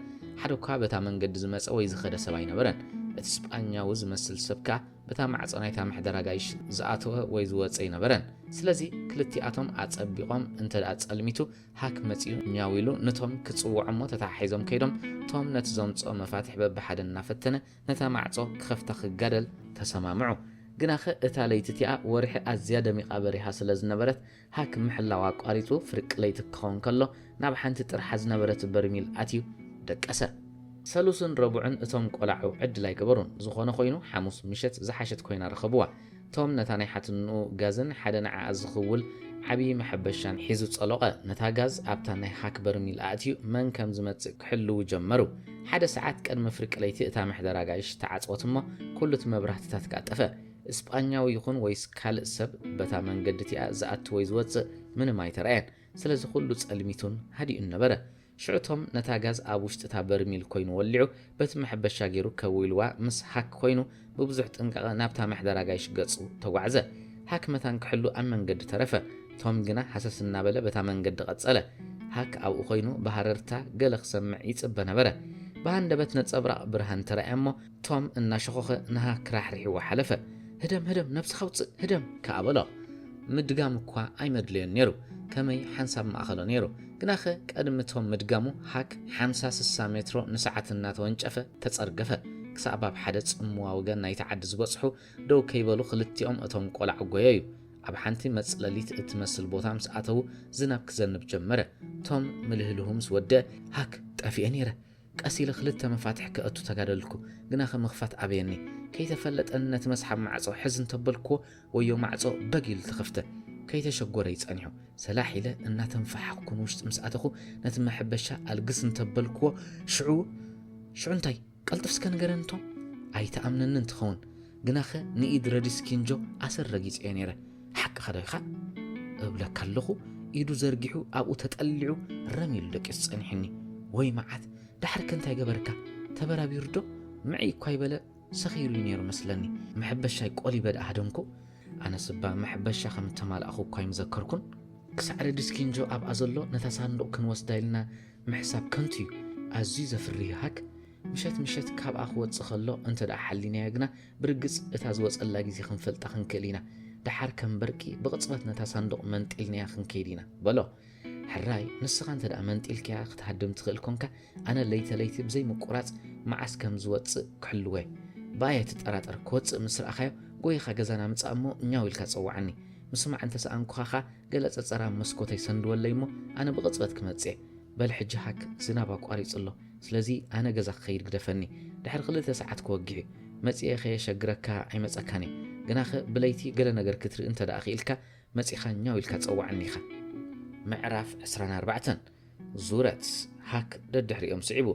ሓደ እኳ በታ መንገዲ ዝመጸ ወይ ዝኸደ ሰብ ኣይነበረን። እቲ ስጳኛዊ ዝመስል ሰብ ከኣ በታ ማዕጾ ናይታ መሕደር ኣጋይሽ ዝኣተወ ወይ ዝወጸ ኣይነበረን። ስለዚ ክልቲኣቶም ኣጸቢቖም እንተ ደኣ ጸልሚቱ ሃክ መጺኡ ኛው ኢሉ ነቶም ክጽውዖ እሞ ተተሓሒዞም ከይዶም ቶም ነቲ ዘምጽኦ መፋትሕ በብሓደ እናፈተነ ነታ ማዕጾ ክኸፍታ ክጋደል ተሰማምዑ። ግናኸ እታ ለይቲ እቲኣ ወርሒ ኣዝያ ደሚቓ በሪሃ ስለ ዝነበረት ሃክ ምሕላው ኣቋሪጹ ፍርቂ ለይቲ ክኸውን ከሎ ናብ ሓንቲ ጥርሓ ዝነበረት በርሚል ኣትዩ ደቀሰ። ሰሉስን ረቡዕን እቶም ቆላዑ ዕድል ኣይገበሩን። ዝኾነ ኮይኑ ሓሙስ ምሸት ዝሓሸት ኮይና ረኸብዋ። ቶም ነታ ናይ ሓትንኡ ጋዝን ሓደ ንዓኣ ዝኽውል ዓቢ መሐበሻን ሒዙ ጸሎቐ። ነታ ጋዝ ኣብታ ናይ ሃክ በርሚል ኣእትዩ መን ከም ዝመጽእ ክሕልዉ ጀመሩ። ሓደ ሰዓት ቀድሚ ፍርቂ ለይቲ እታ መሕደር ኣጋይሽ ተዓጽወት እሞ ኩሉት መብራህትታት ከኣ ጠፍኣ። እስጳኛዊ ይኹን ወይስ ካልእ ሰብ በታ መንገዲ እቲኣ ዝኣቱ ወይ ዝወጽእ ምንም ኣይተራእየን። ስለዚ ኩሉ ጸልሚቱን ሃዲኡን ነበረ። ሽዑ ቶም ነታ ጋዝ ኣብ ውሽጢ እታ በርሚል ኮይኑ ወሊዑ በቲ መሐበሻ ጌሩ ከው ኢልዋ ምስ ሃክ ኮይኑ ብብዙሕ ጥንቃቐ ናብታ መሕደር ኣጋይሽ ገጹ ተጓዕዘ። ሃክ መታን ክሕሉ ኣብ መንገዲ ተረፈ። ቶም ግና ሃሰስ እናበለ በታ መንገዲ ቀጸለ። ሃክ ኣብኡ ኮይኑ ብሃረርታ ገለ ክሰምዕ ይጽበ ነበረ። ብሃንደበት ነጸብራቕ ብርሃን ተራእያ እሞ ቶም እናሸኾኸ ንሃክ ራሕሪሕዋ ሓለፈ። ህደም ህደም ነብስኻ ውጽእ ህደም ከኣ በሎ። ምድጋም እኳ ኣይመድለዮን ነይሩ፣ ከመይ ሓንሳብ ምኣኸሎ ነይሩ። ግናኸ ቀድሚ ቶም ምድጋሙ ሃክ ሓምሳ ስሳ ሜትሮ ንሰዓት እናተወንጨፈ ተጸርገፈ። ክሳዕ ባብ ሓደ ጽምዋ ወገን ናይቲ ዓዲ ዝበጽሑ ደው ከይበሉ ክልቲኦም እቶም ቆላዑ ጎየዩ። ኣብ ሓንቲ መጽለሊት እትመስል ቦታ ምስ ኣተዉ ዝናብ ክዘንብ ጀመረ። ቶም ምልህልሁ ምስ ወድእ ሃክ ጠፊኤ ነይረ ቀስ ኢለ ክልተ መፋትሕ ከእቱ ተጋደልኩ፣ ግና ከ ምኽፋት ኣበየኒ። ከይተፈለጠኒ ነቲ መስሓብ ማዕጾ ሕዝ እንተበልኩዎ ወዮ ማዕጾ በግ ኢሉ ተኸፍተ። ከይተሸጎረ እዩ ጸኒሑ። ሰላሕ ኢለ እናተንፋሓኽኩ ንውሽጢ ምስ ኣተኹ ነቲ መሕበሻ ኣልግስ እንተበልኩዎ ሽዑ ሽዑ እንታይ? ቀልጥፍ እስከ ንገረኒ ቶም። ኣይትኣምነንን ትኸውን። ግናኸ ንኢድ ረዲስ ኪንጆ ኣሰር ረጊጸዮ ነይረ። ሓቅኻዶ ኢኻ? እብለካ ኣለኹ፣ ኢዱ ዘርጊሑ ኣብኡ ተጠሊዑ ረም ኢሉ ደቂሱ ጸኒሑኒ። ወይ መዓት! ዳሕሪከ እንታይ ገበርካ? ተበራቢሩዶ? ምዕይ እኳ ኣይበለ ሰኽ ኢሉ'ዩ ነይሩ መስለኒ። መሕበሻይ ቆሊበ ደኣ ሃደምኩ። ኣነስ እባ መሕበሻ ከም እተማላእኹ እኳ ኣይምዘከርኩን። ክሳዕ ረዲስ ኪንጆ ኣብኣ ዘሎ ነታ ሳንዱቕ ክንወስዳ ኢልና ምሕሳብ ከንቱ'ዩ። ኣዝዩ ዘፍርህ ሃክ! ምሸት ምሸት ካብኣ ክወጽእ ከሎ እንተ ደኣ ሓሊናዮ ግና፣ ብርግጽ እታ ዝወጸላ ግዜ ክንፈልጣ ክንክእል ኢና። ደሓር ከም በርቂ ብቕጽበት ነታ ሳንዱቕ መንጢልናያ ክንከይድ ኢና። በሎ። ሕራይ ንስኻ እንተ ደኣ መንጢልካያ ክትሃድም ትኽእል ኰንካ፣ ኣነ ለይተ ለይቲ ብዘይ ምቍራጽ መዓስ ከም ዝወጽእ ክሕልዎ'የ። ብኣይ ኣይትጠራጠር፣ ክወጽእ ምስ ረኣኻዮ ጐዪኻ ገዛና ምጻእ እሞ ኛው ኢልካ ጸውዓኒ። ምስማዕ እንተ ሰኣንኩኻ ከኣ ገለ ጸጸር ኣብ መስኮተይ ሰንድወለይ እሞ ኣነ ብቕጽበት ክመጽእ'የ። በል ሕጂ ሃክ፣ ዝናብ ኣቋሪጹ ኣሎ። ስለዚ ኣነ ገዛ ክኸይድ ግደፈኒ ድሕሪ ክልተ ሰዓት ክወግሕ'ዩ መጺኤ ከየሸግረካ ኣይመጸካን እየ ግናኸ ብለይቲ ገለ ነገር ክትርኢ እንተደኣ ክኢልካ መጺኻ ኛው ኢልካ ጸውዓኒ ኢኻ። ምዕራፍ ዕስራን ኣርባዕተን ዙረት ሃክ ደድሕሪኦም ስዒቡ።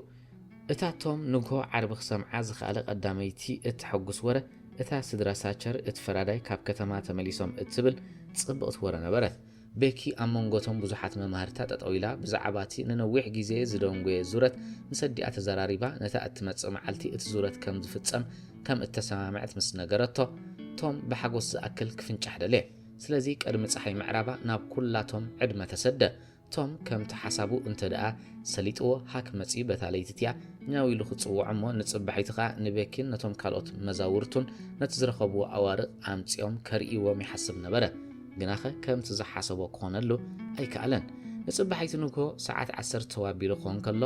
እታ ቶም ንግሆ ዓርቢ ክሰምዓ ዝኸኣለ ቀዳመይቲ እተሐጉስ ወረ እታ ስድራ ሳቸር እቲ ፈራዳይ ካብ ከተማ ተመሊሶም እትብል ጽብቕቲ ወረ ነበረት። ቤኪ ኣብ መንጎ እቶም ብዙሓት መማህርታ ጠጠው ኢላ ብዛዕባ እቲ ንነዊሕ ግዜ ዝደንጎየ ዙረት ምስ ኣዲኣ ተዘራሪባ ነታ እትመጽእ መዓልቲ እቲ ዙረት ከም ዝፍጸም ከም እተሰማምዐት ምስ ነገረቶ ቶም ብሓጎስ ዝኣክል ክፍንጫሕ ደለየ። ስለዚ ቅድሚ ጸሓይ ምዕራባ ናብ ኩላቶም ዕድመ ተሰደ። ቶም ከምቲ ሓሳቡ እንተ ደኣ ሰሊጥዎ ሃክ መጺኡ በታ ለይቲ እቲኣ ኛው ኢሉ ክጽውዖ እሞ ንጽባሒቱ ከኣ ንቤኪን ነቶም ካልኦት መዛውርቱን ነቲ ዝረኸብዎ ኣዋርቕ ኣምጺኦም ከርእይዎም ይሓስብ ነበረ። ግናኸ ከምቲ ዝሓሰቦ ክኾነሉ ኣይከኣለን። ንጽባሒቲ ንግሆ ሰዓት ዓሰርተ ተው ኣቢሉ ክኾን ከሎ፣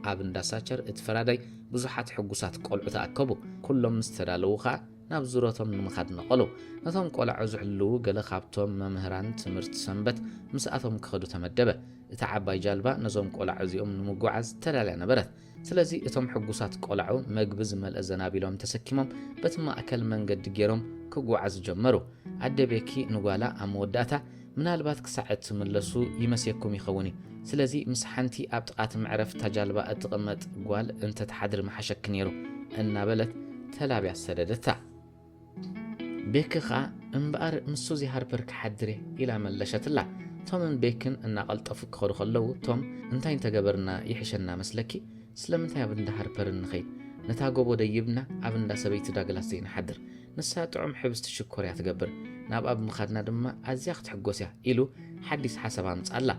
ኣብ እንዳ ሳቸር እቲ ፈራዳይ ብዙሓት ሕጉሳት ቆልዑ ተኣከቡ። ኩሎም ምስ ተዳለዉ ከኣ ናብ ዙረቶም ንምኻድ ነቐሉ። ነቶም ቆላዑ ዝሕልዉ ገለ ካብቶም መምህራን ትምህርቲ ሰንበት ምስኣቶም ክኸዱ ተመደበ። እታ ዓባይ ጃልባ ነዞም ቆላዑ እዚኦም ንምጉዓዝ ተዳልያ ነበረት። ስለዚ እቶም ሕጉሳት ቆላዑ መግቢ ዝመልአ ዘናቢሎም ተሰኪሞም በቲ ማእከል መንገዲ ጌሮም ክጉዓዙ ጀመሩ። ኣደ ቤኪ ንጓላ ኣብ መወዳእታ፣ ምናልባት ክሳዕ እትምለሱ ይመስየኩም ይኸውን እዩ፣ ስለዚ ምስ ሓንቲ ኣብ ጥቓ እቲ መዕረፊ እታ ጃልባ እትቕመጥ ጓል እንተ ትሓድሪ ምሓሸኪ ነይሩ እናበለት ተላብያ ሰደደታ። ቤኪ ከኣ እምበኣር ምስ ሱዚ ሃርፐር ክሓድር እየ ኢላ መለሸትላ። ቶምን ቤክን እናቐልጠፉ ክኸዱ ከለዉ ቶም እንታይ እንተገበርና ይሕሸና መስለኪ? ስለምንታይ ኣብ እንዳ ሃርፐርን ንኸይድ? ነታ ጎቦ ደይብና ኣብ እንዳ ሰበይቲ ዳግላስ ዘይንሓድር? ንሳ ጥዑም ሕብስቲ ሽኮር እያ ትገብር፣ ናብኣ ብምኻድና ድማ ኣዝያ ክትሕጎስ እያ ኢሉ ሓዲስ ሓሳብ ኣምጽኣላ።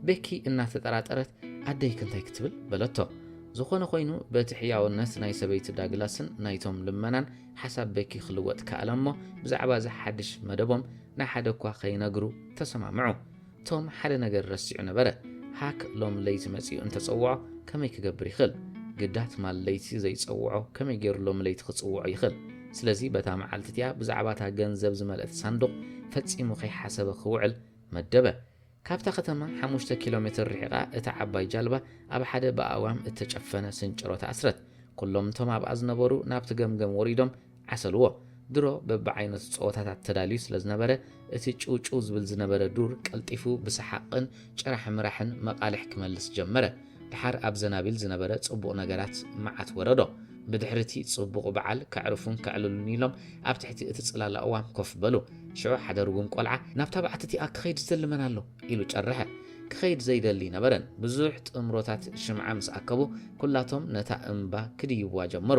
ቤኪ እናተጠራጠረት ኣደይክ እንታይ ክትብል? በለቶ። ዝኾነ ኮይኑ በቲ ሕያውነት ናይ ሰበይቲ ዳግላስን ናይ ቶም ልመናን ሓሳብ ቤኪ ክልወጥ ከኣለ እሞ ብዛዕባ እዚ ሓድሽ መደቦም ንሓደ እኳ ከይነግሩ ተሰማምዑ። ቶም ሓደ ነገር ረሲዑ ነበረ፣ ሃክ ሎም ለይቲ መጺኡ እንተ ጸውዖ ከመይ ክገብር ይኽእል? ግዳ ትማል ለይቲ ዘይጸውዖ ከመይ ገይሩ ሎሚ ለይቲ ክጽውዖ ይኽእል? ስለዚ በታ መዓልቲ እቲኣ ብዛዕባ እታ ገንዘብ ዝመልእት ሳንዱቕ ፈጺሙ ከይሓሰበ ክውዕል መደበ። ካብታ ከተማ ሓሙሽተ ኪሎ ሜትር ርሒቓ እታ ዓባይ ጃልባ ኣብ ሓደ ብኣእዋም እተጨፈነ ስንጭሮ ተኣስረት። ኵሎም እቶም ኣብኣ ዝነበሩ ናብቲ ገምገም ወሪዶም ዓሰልዎ። ድሮ በብዓይነቱ ጸወታታት ተዳልዩ ስለ ዝነበረ፣ እቲ ጭውጭው ዝብል ዝነበረ ዱር ቀልጢፉ ብሰሓቕን ጭራሕ ምራሕን መቓልሕ ክመልስ ጀመረ። ደሓር ኣብ ዘናቢል ዝነበረ ጽቡቕ ነገራት መዓት ወረዶ። ብድሕሪ እቲ ጽቡቕ በዓል ከዕርፉን ከዕልሉን ኢሎም ኣብ ትሕቲ እቲ ጽላል ኣእዋም ኮፍ በሉ። ሽዑ ሓደ ርጉም ቆልዓ ናብታ በዓቲ እቲኣ ክኸይድ ዝደሊ መን ኣሎ? ኢሉ ጨረሐ። ክኸይድ ዘይደሊ ኣይነበረን። ብዙሕ ጥምሮታት ሽምዓ ምስ ኣከቡ ኩላቶም ነታ እምባ ክድይቡዋ ጀመሩ።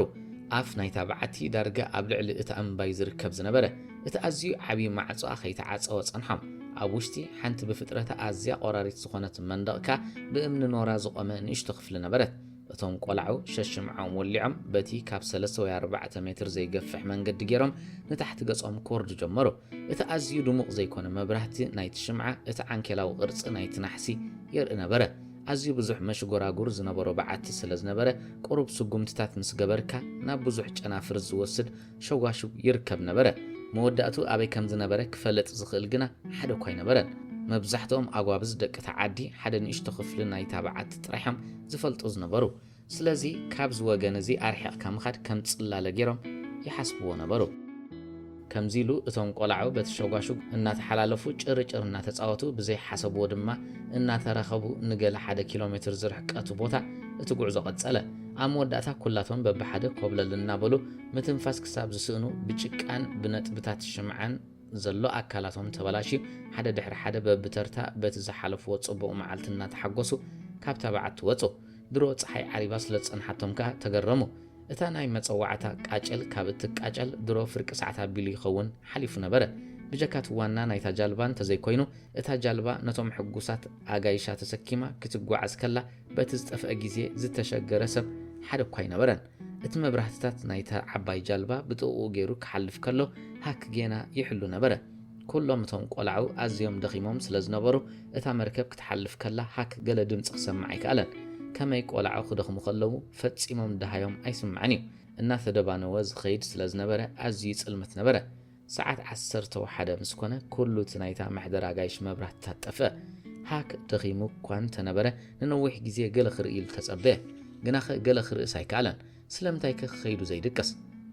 ኣፍ ናይታ በዓቲ ዳርጋ ኣብ ልዕሊ እታ እምባ'ዩ ዝርከብ ዝነበረ። እቲ ኣዝዩ ዓብዪ ማዕጾኣ ከይተዓጸወ ጸንሖም። ኣብ ውሽጢ፣ ሓንቲ ብፍጥረታ ኣዝያ ቆራሪት ዝኾነት መንደቕ እካ ብእምኒ ኖራ ዝቖመ ንእሽቶ ክፍሊ ነበረት። እቶም ቆላዑ ሸሽምዖም ወሊዖም በቲ ካብ ሰለስተ ወይ ኣርባዕተ ሜትር ዘይገፍሕ መንገዲ ጌሮም ንታሕቲ ገጾም ክወርዱ ጀመሩ። እቲ ኣዝዩ ድሙቕ ዘይኮነ መብራህቲ ናይቲ ሽምዓ እቲ ዓንኬላዊ ቅርጺ ናይቲ ናሕሲ የርኢ ነበረ። ኣዝዩ ብዙሕ መሽጎራጉር ዝነበሮ በዓቲ ስለ ዝነበረ፣ ቁሩብ ስጉምትታት ምስ ገበርካ ናብ ብዙሕ ጨናፍር ዝወስድ ሸዋሽው ይርከብ ነበረ። መወዳእትኡ ኣበይ ከም ዝነበረ ክፈለጥ ዝኽእል ግና ሓደ እኳ ኣይነበረን። መብዛሕትኦም ኣጓብዝ ደቂ'ታ ዓዲ ሓደ ንእሽቶ ክፍሊ ናይ'ታ በዓቲ ጥራሕ'ዮም ዝፈልጡ ዝነበሩ። ስለዚ ካብ'ዚ ወገን እዚ ኣርሒቕካ ምኻድ ከም ጽላለ ገይሮም ይሓስብዎ ነበሩ። ከምዚ ኢሉ እቶም ቆላዑ በቲ ሸጓሹግ እናተሓላለፉ ጭርጭር እናተጻወቱ ብዘይ ሓሰብዎ ድማ እናተራኸቡ ንገለ ሓደ ኪሎ ሜትር ዝርሕቀቱ ቦታ እቲ ጉዕዞ ቀጸለ። ኣብ መወዳእታ ኩላቶም በብሓደ ኮብለል እናበሉ ምትንፋስ ክሳብ ዝስእኑ ብጭቃን ብነጥብታት ሽምዓን ዘሎ ኣካላቶም ተበላሽዩ ሓደ ድሕሪ ሓደ በብተርታ በቲ ዝሓለፍዎ ጽቡቕ መዓልቲ እናተሓጎሱ ካብታ በዓቲ ወጹ። ድሮ ጸሓይ ዓሪባ ስለ ዝጸንሓቶም ከኣ ተገረሙ። እታ ናይ መጸዋዕታ ቃጭል ካብ እትቃጨል ድሮ ፍርቂ ሰዓት ኣቢሉ ይኸውን ሓሊፉ ነበረ። ብጀካ እቲ ዋና ናይታ ጃልባ እንተዘይኮይኑ እታ ጃልባ ነቶም ሕጉሳት ኣጋይሻ ተሰኪማ ክትጓዓዝ ከላ በቲ ዝጠፍአ ግዜ ዝተሸገረ ሰብ ሓደ እኳ ኣይነበረን። እቲ መብራህትታት ናይታ ዓባይ ጃልባ ብጥቕኡ ገይሩ ክሓልፍ ከሎ ሃክ ጌና ይሕሉ ነበረ። ኵሎም እቶም ቈላዑ ኣዝዮም ደኺሞም ስለ ዝነበሩ፣ እታ መርከብ ክትሓልፍ ከላ ሃክ ገለ ድምጺ ክሰምዕ ኣይከኣለን። ከመይ ቈላዑ ክደኽሙ ከለዉ ፈጺሞም ደሃዮም ኣይስማዕን እዩ። እናተደባነወ ዝኸይድ ስለ ዝነበረ ኣዝዩ ይጽልምት ነበረ። ሰዓት ዓሰርተ ወሓደ ምስ ኮነ ኩሉ እቲ ናይታ መሕደር ኣጋይሽ መብራህትታት ጠፍእ። ሃክ ደኺሙ እኳ እንተ ነበረ ንነዊሕ ግዜ ገለ ክርእይሉ ተጸበየ። ግናኸ ገለ ክርእስ ኣይከኣለን። ስለምንታይከ ክኸይዱ ዘይድቅስ?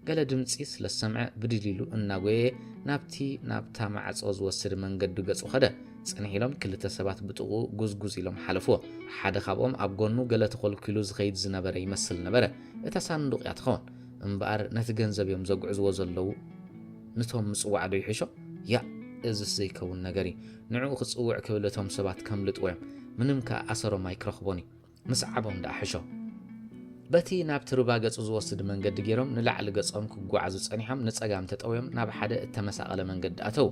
ገለ ድምጺ ስለ ዝሰምዐ ብድድ ኢሉ እናጎየየ ናብቲ ናብታ ማዕጾ ዝወስድ መንገዱ ገጹ ከደ። ጽንሕ ኢሎም ክልተ ሰባት ብጥቕኡ ጉዝጉዝ ኢሎም ሓለፍዎ። ሓደ ካብኦም ኣብ ጎኑ ገለ ተኾልኲሉ ዝኸይድ ዝነበረ ይመስል ነበረ። እታ ሳንዱቕ እያ ትኸውን። እምበኣር ነቲ ገንዘብ እዮም ዘጉዕዝዎ ዘለዉ ንቶም ምጽዋዕ ዶ ይሕሾ ያእ እዝስ ዘይከውን ነገር እዩ ንዕኡ ክጽውዕ ክብል እቶም ሰባት ከምልጥዎ እዮም ምንም ከኣ ኣሰሮም ኣይክረኽቦን እዩ ምስዓቦም ደኣ ሕሾ በቲ ናብቲ ሩባ ገጹ ዝወስድ መንገዲ ገይሮም ንላዕሊ ገጾም ክጓዓዙ ጸኒሖም ንጸጋም ተጠውዮም ናብ ሓደ እተመሳቐለ መንገዲ ኣተዉ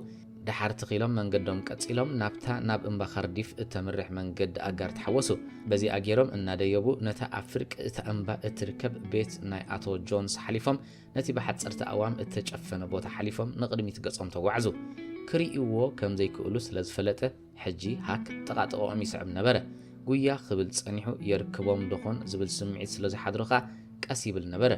ደሓር ተኺሎም መንገዶም ቀጺሎም ናብታ ናብ እምባ ካርዲፍ እተምርሕ መንገዲ ኣጋር ተሓወሱ። በዚኣ ገይሮም እናደየቡ ነታ ኣብ ፍርቂ እታ እምባ እትርከብ ቤት ናይ ኣቶ ጆንስ ሓሊፎም ነቲ ብሓጸርቲ ኣእዋም እተጨፈነ ቦታ ሓሊፎም ንቕድሚት ገጾም ተጓዕዙ። ክርእይዎ ከም ዘይክእሉ ስለ ዝፈለጠ፣ ሕጂ ሃክ ጥቓ ጥቐኦም ይስዕብ ነበረ። ጉያ ክብል ጸኒሑ የርክቦም ዶኾን ዝብል ስምዒት ስለ ዝሓድሮ ከኣ ቀስ ይብል ነበረ።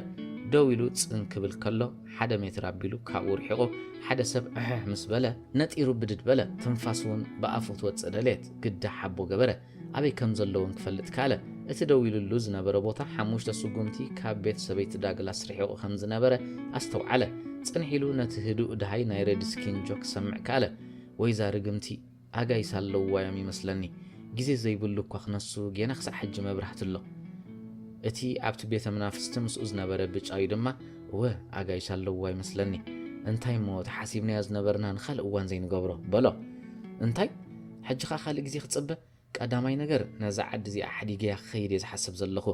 ደው ኢሉ ጽን ክብል ከሎ ሓደ ሜትር ኣቢሉ ካብኡ ርሒቑ ሓደ ሰብ ዕሕሕ ምስ በለ ነጢሩ ብድድ በለ። ትንፋሱ'ውን ብኣፉ ክትወጽእ ደለየት። ግዳ ሓቦ ገበረ። ኣበይ ከም ዘሎ'ውን ክፈልጥ ከኣለ። እቲ ደው ኢሉሉ ዝነበረ ቦታ ሓሙሽተ ስጉምቲ ካብ ቤት ሰበይቲ ዳግላስ ርሒቑ ከም ዝነበረ ኣስተውዓለ። ጽንሕ ኢሉ ነቲ ህዱእ ደሃይ ናይ ሬድስኪን ጆክ ክሰምዕ ከኣለ። ወይ እዛ ርግምቲ ኣጋይሽ ኣለዉዋ እዮም ይመስለኒ ግዜ ዘይብሉ እኳ ክነሱ ጌና ክሳዕ ሕጂ መብራህቲ ኣሎ እቲ ኣብቲ ቤተ መናፍስቲ ምስኡ ዝነበረ ብጫዩ ድማ እወ ኣጋይሽ ኣለዉዋ ይመስለኒ እንታይ እሞ እቲ ሓሲብናዮ ዝነበርና ንኻልእ እዋን ዘይንገብሮ በሎ እንታይ ሕጂ ከኣ ካልእ ግዜ ክጽበ ቀዳማይ ነገር ነዛ ዓዲ እዚኣ ሓዲገያ ክኸይድ እየ ዝሓስብ ዘለኹ።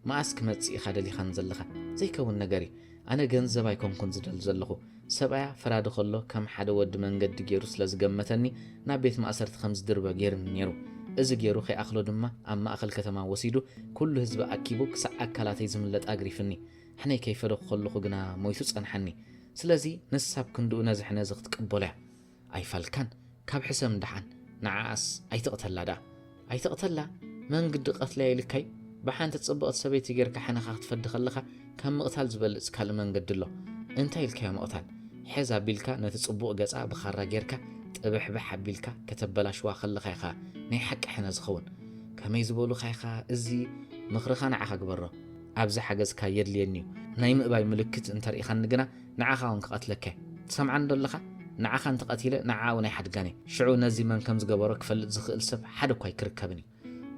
መኣስ ክመጽእ ኢኻ ደሊኻኒ ዘለኻ? ዘይከውን ነገር እዩ። ኣነ ገንዘብ ኣይኮንኩን ዝደሊ ዘለኹ። ሰብኣያ ፈራዲ ከሎ ከም ሓደ ወዲ መንገዲ ገይሩ ስለ ዝገመተኒ ናብ ቤት ማእሰርቲ ከም ዝድርበ ገይሩኒ ነይሩ። እዚ ገይሩ ከይኣኽሎ ድማ ኣብ ማእከል ከተማ ወሲዱ ኩሉ ህዝቢ ኣኪቡ ክሳዕ ኣካላተይ ዝምለጥ ኣግሪፍኒ። ሕነ ከይፈደኹ ከለኹ ግና ሞይቱ ጸንሓኒ። ስለዚ ንሳ ኣብ ክንድኡ ነዚ ሕነ እዚ ክትቅበሎ እያ። ኣይፋልካን ካብ ሕሰም ዳሓን ንዓኣስ ኣይትቅተላ ዳኣ ኣይትቅተላ መንግዲ ቀትለያ ኢልካዩ ብሓንቲ ጽብቅቲ ሰበይቲ ገርካ ሕነኻ ክትፈዲ ከለኻ ካብ ምቅታል ዝበልጽ ካልእ መንገዲ ኣሎ እንታይ ኢልካዮ ምቅታል ሕዝ ኣቢልካ ነቲ ጽቡቅ ገጻ ብኻራ ገርካ ጥብሕብሕ ኣቢልካ ከተበላሽዋ ከለኻ ኢኻ ናይ ሓቂ ሕነ ዝኸውን ከመይ ዝበሉኻ ኢኻ እዚ ምኽርኻ ንዓኻ ግበሮ ኣብዚ ሓገዝካ የድልየኒዩ ናይ ምእባይ ምልክት እንተርኢኻኒ ግና ንዓኻ ውን ክቀትለካ እየ ትሰምዓኒ ዶ ኣለኻ ንዓኻ እንተ ቀቲለ ንዓኣ ውን ኣይሓድጋን እየ ሽዑ ነዚ መን ከም ዝገበሮ ክፈልጥ ዝኽእል ሰብ ሓደ እኳ ኣይክርከብን እዩ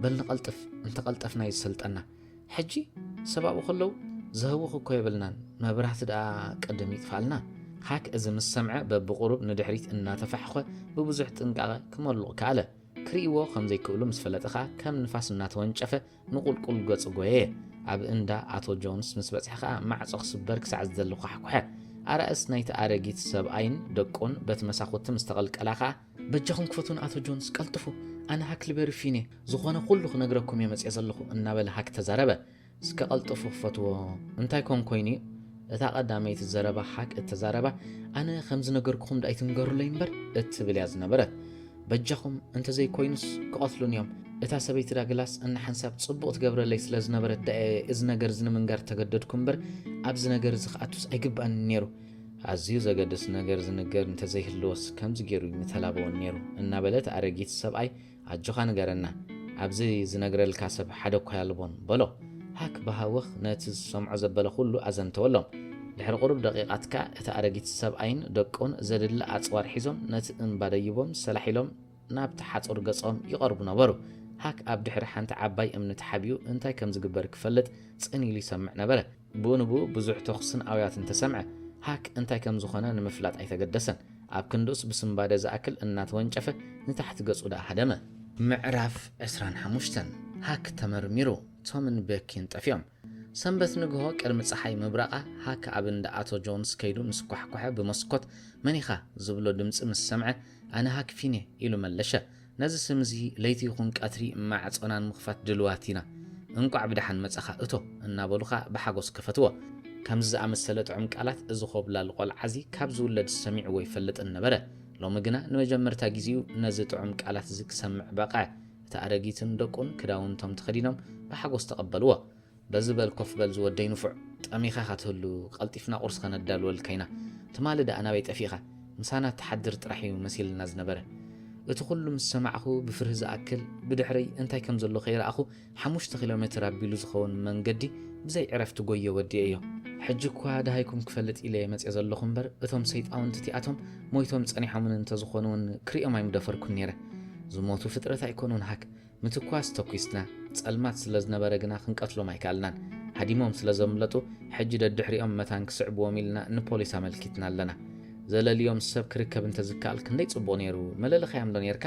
በል ንቀልጥፍ እንተ ቀልጠፍና እዩ ዝሰልጠና ሕጂ ሰብ ኣብኡ ከለዉ ዘህውኽ እኮ የብልናን መብራህቲ ደኣ ቅድም ይጥፋኣልና ሃክ እዚ ምስ ሰምዐ በብቁሩብ ንድሕሪት እናተፋሕኾ ብብዙሕ ጥንቃቐ ክመሉቕ ከኣለ ክርእይዎ ከም ዘይክእሉ ምስ ፈለጠ ከኣ ከም ንፋስ እናተወንጨፈ ንቑልቁል ገጹ ጎየየ። ኣብ እንዳ ኣቶ ጆንስ ምስ በጽሐ ከኣ ማዕጾ ክስበር ክሳዕ ዝደሊ ኳሕኩሐ። ኣራእስ ናይቲ ኣረጊት ሰብኣይን ደቁን በቲ መሳኹቲ ምስ ተቐልቀላ ከኣ፣ በጃኹም ክፈቱ ንኣቶ ጆንስ ቀልጥፉ፣ ኣነ ሃክልበሪ ፊኔ ዝኾነ ኩሉ ክነግረኩም እየ መጺኤ ዘለኹ እናበለ ሃክ ተዛረበ። እስከ ቀልጥፉ ክፈትዎ እንታይ ኮን ኮይኑ እዩ? እታ ቀዳመይቲ ዘረባ ሃክ እተዛረባ ኣነ ከም ዝነገርኩኹም ዶ ኣይትንገሩለይ እምበር እትብል እያ ዝነበረት። በጃኹም እንተዘይ ኮይኑስ ክቐትሉን እዮም። እታ ሰበይቲ ዳግላስ እንሓንሳብ ጽቡቕ ትገብረለይ ስለ ዝነበረት ደኣየ እዚ ነገር እዚ ንምንጋር ተገደድኩ እምበር ኣብዚ ነገር እዚ ክኣቱስ ኣይግባእንን ነይሩ። ኣዝዩ ዘገድስ ነገር ዝንገር እንተዘይህልወስ ከምዚ ገይሩ ምተላበወን ነይሩ እናበለት ኣረጊት ሰብኣይ ኣጆኻ ንገረና ኣብዚ ዝነግረልካ ሰብ ሓደ እኳ ኣልቦን በሎ። ሃክ ብሃውኽ ነቲ ዝሰምዖ ዘበለ ዅሉ ኣዘንተወሎም። ድሕሪ ቝሩብ ደቒቓት ከኣ እቲ ኣረጊት ሰብኣይን ደቁን ዘድሊ ኣጽዋር ሒዞም ነቲ እምባ ደይቦም ሰላሕ ኢሎም ናብቲ ሓጹር ገጾም ይቐርቡ ነበሩ። ሃክ ኣብ ድሕሪ ሓንቲ ዓባይ እምኒ ተሓቢኡ እንታይ ከም ዝግበር ክፈልጥ ጽን ኢሉ ይሰምዕ ነበረ። ብኡንብኡ ብዙሕ ተዅስን ኣውያትን ተሰምዐ። ሃክ እንታይ ከም ዝዀነ ንምፍላጥ ኣይተገደሰን። ኣብ ክንድኡስ ብስንባደ ዝኣክል እናተወንጨፈ ንታሕቲ ገጹ ደኣ ሃደመ። ምዕራፍ ዕስራን ሓሙሽተን፣ ሃክ ተመርሚሩ፣ ቶምን ቤኪን ጠፊኦም። ሰንበት ንግሆ ቅድሚ ጸሓይ ምብራቓ፣ ሃክ ኣብ እንዳ ኣቶ ጆንስ ከይዱ ምስ ኳሕኮሐ ብመስኮት መን ኢኻ? ዝብሎ ድምጺ ምስ ሰምዐ፣ ኣነ ሃክ ፊን'የ ኢሉ መለሸ። ነዚ ስም እዚ ለይቲ ይኹን ቀትሪ ማዕጾና ንምኽፋት ድሉዋት ኢና። እንቋዕ ብደሓን መጻኻ እቶ እናበሉኻ ብሓጎስ ከፈትዎ። ከምዚ ዝኣመሰለ ጥዑም ቃላት እዚ ዀብላል ቈልዓ እዚ ካብ ዝውለድስ ሰሚዕዎ ኣይፈልጥን ነበረ። ሎሚ ግና ንመጀመርታ ግዜኡ ነዚ ጥዑም ቃላት እዚ ክሰምዕ በቕዐ። እታ ኣረጊትን ደቁን ክዳውንቶም ተኸዲኖም ብሓጎስ ተቐበልዎ። በዚ በል ኮፍ በል ዝወደይ ንፉዕ፣ ጠሚኻ ኢኻ ትህሉ፣ ቀልጢፍና ቁርሲ ከነዳልወልካ ኢና፣ ትማሊ ደኣ ናበይ ጠፊእኻ፣ ምሳና ትሓድር ጥራሕ እዩ መሲልና ዝነበረ። እቲ ኩሉ ምስ ሰማዕኩ ብፍርሂ ዝኣክል ብድሕረይ እንታይ ከም ዘሎ ከይረኣኹ ሓሙሽተ ኪሎ ሜትር ኣቢሉ ዝኸውን መንገዲ ብዘይ ዕረፍቲ ጎየ ወዲኤዮ። ሕጂ እኳ ደሃይኩም ክፈልጥ ኢለየ መጺኤ ዘለኹ እምበር እቶም ሰይጣውንቲ እቲኣቶም ሞይቶም ጸኒሖምኒ እንተዝኾኑ እውን ክርእዮም ኣይምደፈርኩን ነይረ። ዝሞቱ ፍጥረት ኣይኮኑን ሃክ፣ ምትኳስ ተኲስና፣ ጸልማት ስለ ዝነበረ ግና ክንቀትሎም ኣይከኣልናን። ሃዲሞም ስለ ዘምለጡ፣ ሕጂ ደድሕሪኦም መታን ክስዕቡዎም ኢልና ንፖሊስ ኣመልኪትና ኣለና። ዘለልዮም ሰብ ክርከብ እንተ ዝከኣል ክንደይ ጽቡቕ ነይሩ፣ መለለኻዮምዶ ነይርካ?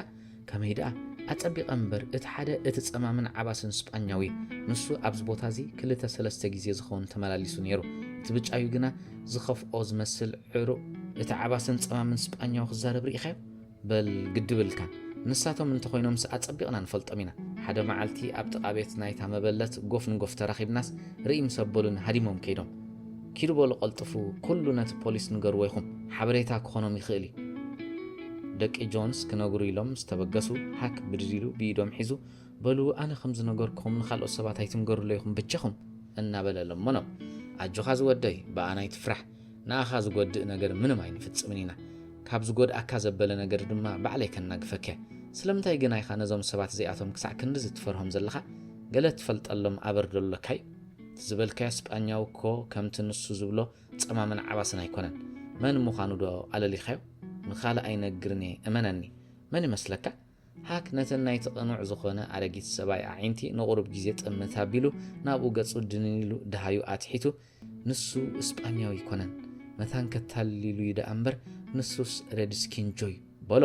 ከመይ ደኣ፣ ኣጸቢቐ እምበር፣ እቲ ሓደ እቲ ጸማምን ዓባስን ስጳኛዊ እዩ። ንሱ ኣብዚ ቦታዚ ክልተ ሰለስተ ግዜ ዝኸውን ተመላሊሱ ነይሩ። እቲ ብጫዩ ግና ዝኸፍኦ ዝመስል ዕሩቕ እቲ ዓባስን ጸማምን ስጳኛዊ ክዛረብ ርኢኻዮ? በል ግዲ ብልካ ንሳቶም እንተኾይኖምስ ኣጸቢቕና ንፈልጦም ኢና። ሓደ መዓልቲ ኣብ ጥቓ ቤት ናይታ መበለት ጎፍ ንጎፍ ተራኺብናስ ርእይ ምስ ኣበሉኒ ሃዲሞም ከይዶም። ኪዱ በሉ ቀልጥፉ ኩሉ ነቲ ፖሊስ ንገርዎ ኢኹም ሓበሬታ ክኾኖም ይኽእል እዩ። ደቂ ጆንስ ክነግሩ ኢሎም ምስ ተበገሱ ሃክ ብድድ ኢሉ ብኢዶም ሒዙ በሉ ኣነ ከም ዝነገርኩኹም ንኻልኦት ሰባት ኣይትንገርሎ ኢኹም ብጃኹም እናበለ ለመኖም። ኣጆኻ ዝወደይ ብኣና ኣይትፍራሕ ንኣኻ ዝጎድእ ነገር ምንም ኣይንፍጽምን ኢና፣ ካብ ዝጎድኣካ ዘበለ ነገር ድማ ባዕለይ ከናግፈክ እየ። ስለምንታይ ግና ኢኻ ነዞም ሰባት እዚኣቶም ክሳዕ ክንድዚ ትፈርሆም ዘለኻ? ገለ ትፈልጠሎም ኣበር ዶ ኣሎካ እዩ? እቲ ዝበልካዮ ስጳኛዊ እኮ ከምቲ ንሱ ዝብሎ ጸማምን ዓባስን ኣይኮነን። መን ምዃኑ ዶ ኣለሊኻዮ? ንኻልእ ኣይነግርን እየ እመነኒ። መን ይመስለካ? ሃክ ነተን ናይቲ ቅኑዕ ዝኾነ ኣረጊት ሰብኣይ ኣዒንቲ ንቑሩብ ግዜ ጥምት ኣቢሉ ናብኡ ገጹ ድንን ኢሉ ደሃዩ ኣትሒቱ ንሱ እስጳኛዊ ኣይኮነን መታን ከታልል'ዩ ደኣ እምበር ንሱስ ሬድስኪን'ጆ'ዩ በሎ።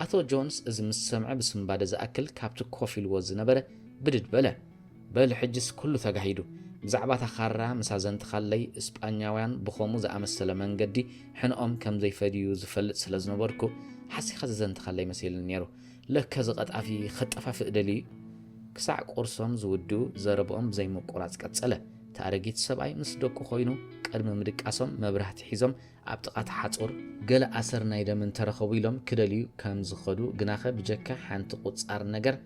ኣቶ ጆንስ እዚ ምስ ሰምዐ ብስንባደ ዝኣክል ካብቲ ኮፍ ኢልዎ ዝነበረ ብድድ በለ። በል ሕጂስ ኩሉ ተጋሂዱ። ብዛዕባ እታ ካራ ምስ ኣዘንትኻለይ እስጳኛውያን ብኸምኡ ዝኣመሰለ መንገዲ ሕነኦም ከም ዘይፈድዩ ዝፈልጥ ስለ ዝነበርኩ ሓሲኻ ዘዘንትኻለይ መሲልኒ ነይሩ። ለከ እዚ ቐጣፊ ከጠፋፍእ ደልዩ'ዩ። ክሳዕ ቁርሶም ዝውድኡ ዘረብኦም ብዘይምቁራጽ ቀጸለ። እቲ ኣረጊት ሰብኣይ ምስ ደቁ ኮይኑ ቅድሚ ምድቃሶም መብራህቲ ሒዞም ኣብ ጥቓ እቲ ሓጹር ገለ ኣሰር ናይ ደም እንተረኸቡ ኢሎም ክደልዩ ከም ዝኸዱ ግናኸ ብጀካ ሓንቲ ቁጻር ነገር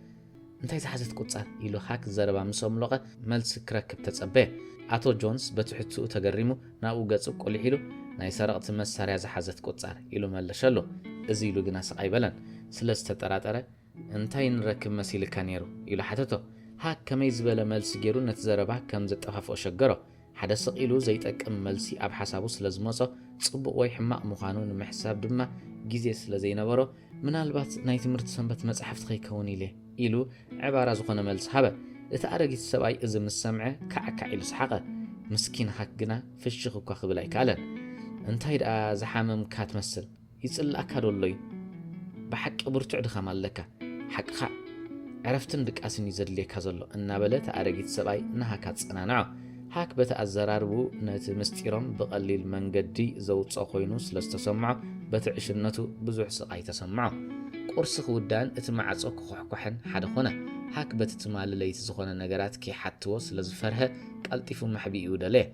እንታይ ዝሓዘት ቁጻር ኢሉ ሃክ ዘረባ ምስ ኣምሎቐ መልሲ ክረክብ ተጸበየ። ኣቶ ጆንስ በቲ ሕትኡ ተገሪሙ ናብኡ ገጹ ቁሊሕ ኢሉ ናይ ሰረቕቲ መሳርያ ዝሓዘት ቁጻር ኢሉ መለሸሉ። እዚ ኢሉ ግናስቕ ኣይበለን ስለ ዝተጠራጠረ እንታይ ንረክብ መሲልካ ነይሩ? ኢሉ ሓተቶ። ሃክ ከመይ ዝበለ መልሲ ገይሩ ነቲ ዘረባ ከም ዘጠፋፍኦ ሸገሮ። ሓደ ስቕ ኢሉ ዘይጠቅም መልሲ ኣብ ሓሳቡ ስለ ዝመጾ፣ ጽቡቕ ወይ ሕማቕ ምዃኑ ንምሕሳብ ድማ ግዜ ስለ ዘይነበሮ፣ ምናልባት ናይ ትምህርቲ ሰንበት መጻሕፍቲ ከይከውን ኢለ፣ ኢሉ ዕባራ ዝኾነ መልሲ ሃበ። እቲ ኣረጊት ሰብኣይ እዚ ምስ ሰምዐ ካዕካዕ ኢሉ ሰሓቐ። ምስኪን ሃክ ግና ፍሽኽ እኳ ክብል ኣይከኣለን። እንታይ ደኣ ዝሓመምካ ትመስል? ይጽልኣካ ዶ ኣሎ ዩ ብሓቂ ብርቱዕ ድኻም ኣለካ ሓቅኻ ዕረፍትን ድቃስን ዩ ዘድልየካ ዘሎ እናበለ እቲ ኣረጊት ሰብኣይ ንሃክ ኣጸናንዖ። ሃክ በቲ ኣዘራርብኡ ነቲ ምስጢሮም ብቐሊል መንገዲ ዘውጽኦ ኮይኑ ስለ ዝተሰምዖ በቲ ዕሽነቱ ብዙሕ ስቓይ ተሰምዖ። ቁርሲ ክውዳእን እቲ ማዕጾ ክኹሕኳሕን ሓደ ኮነ። ሃክ በቲ ትማሊ ለይቲ ዝኾነ ነገራት ከይሓትዎ ስለ ዝፈርሀ ቀልጢፉ መሕብኢኡ ደለየ።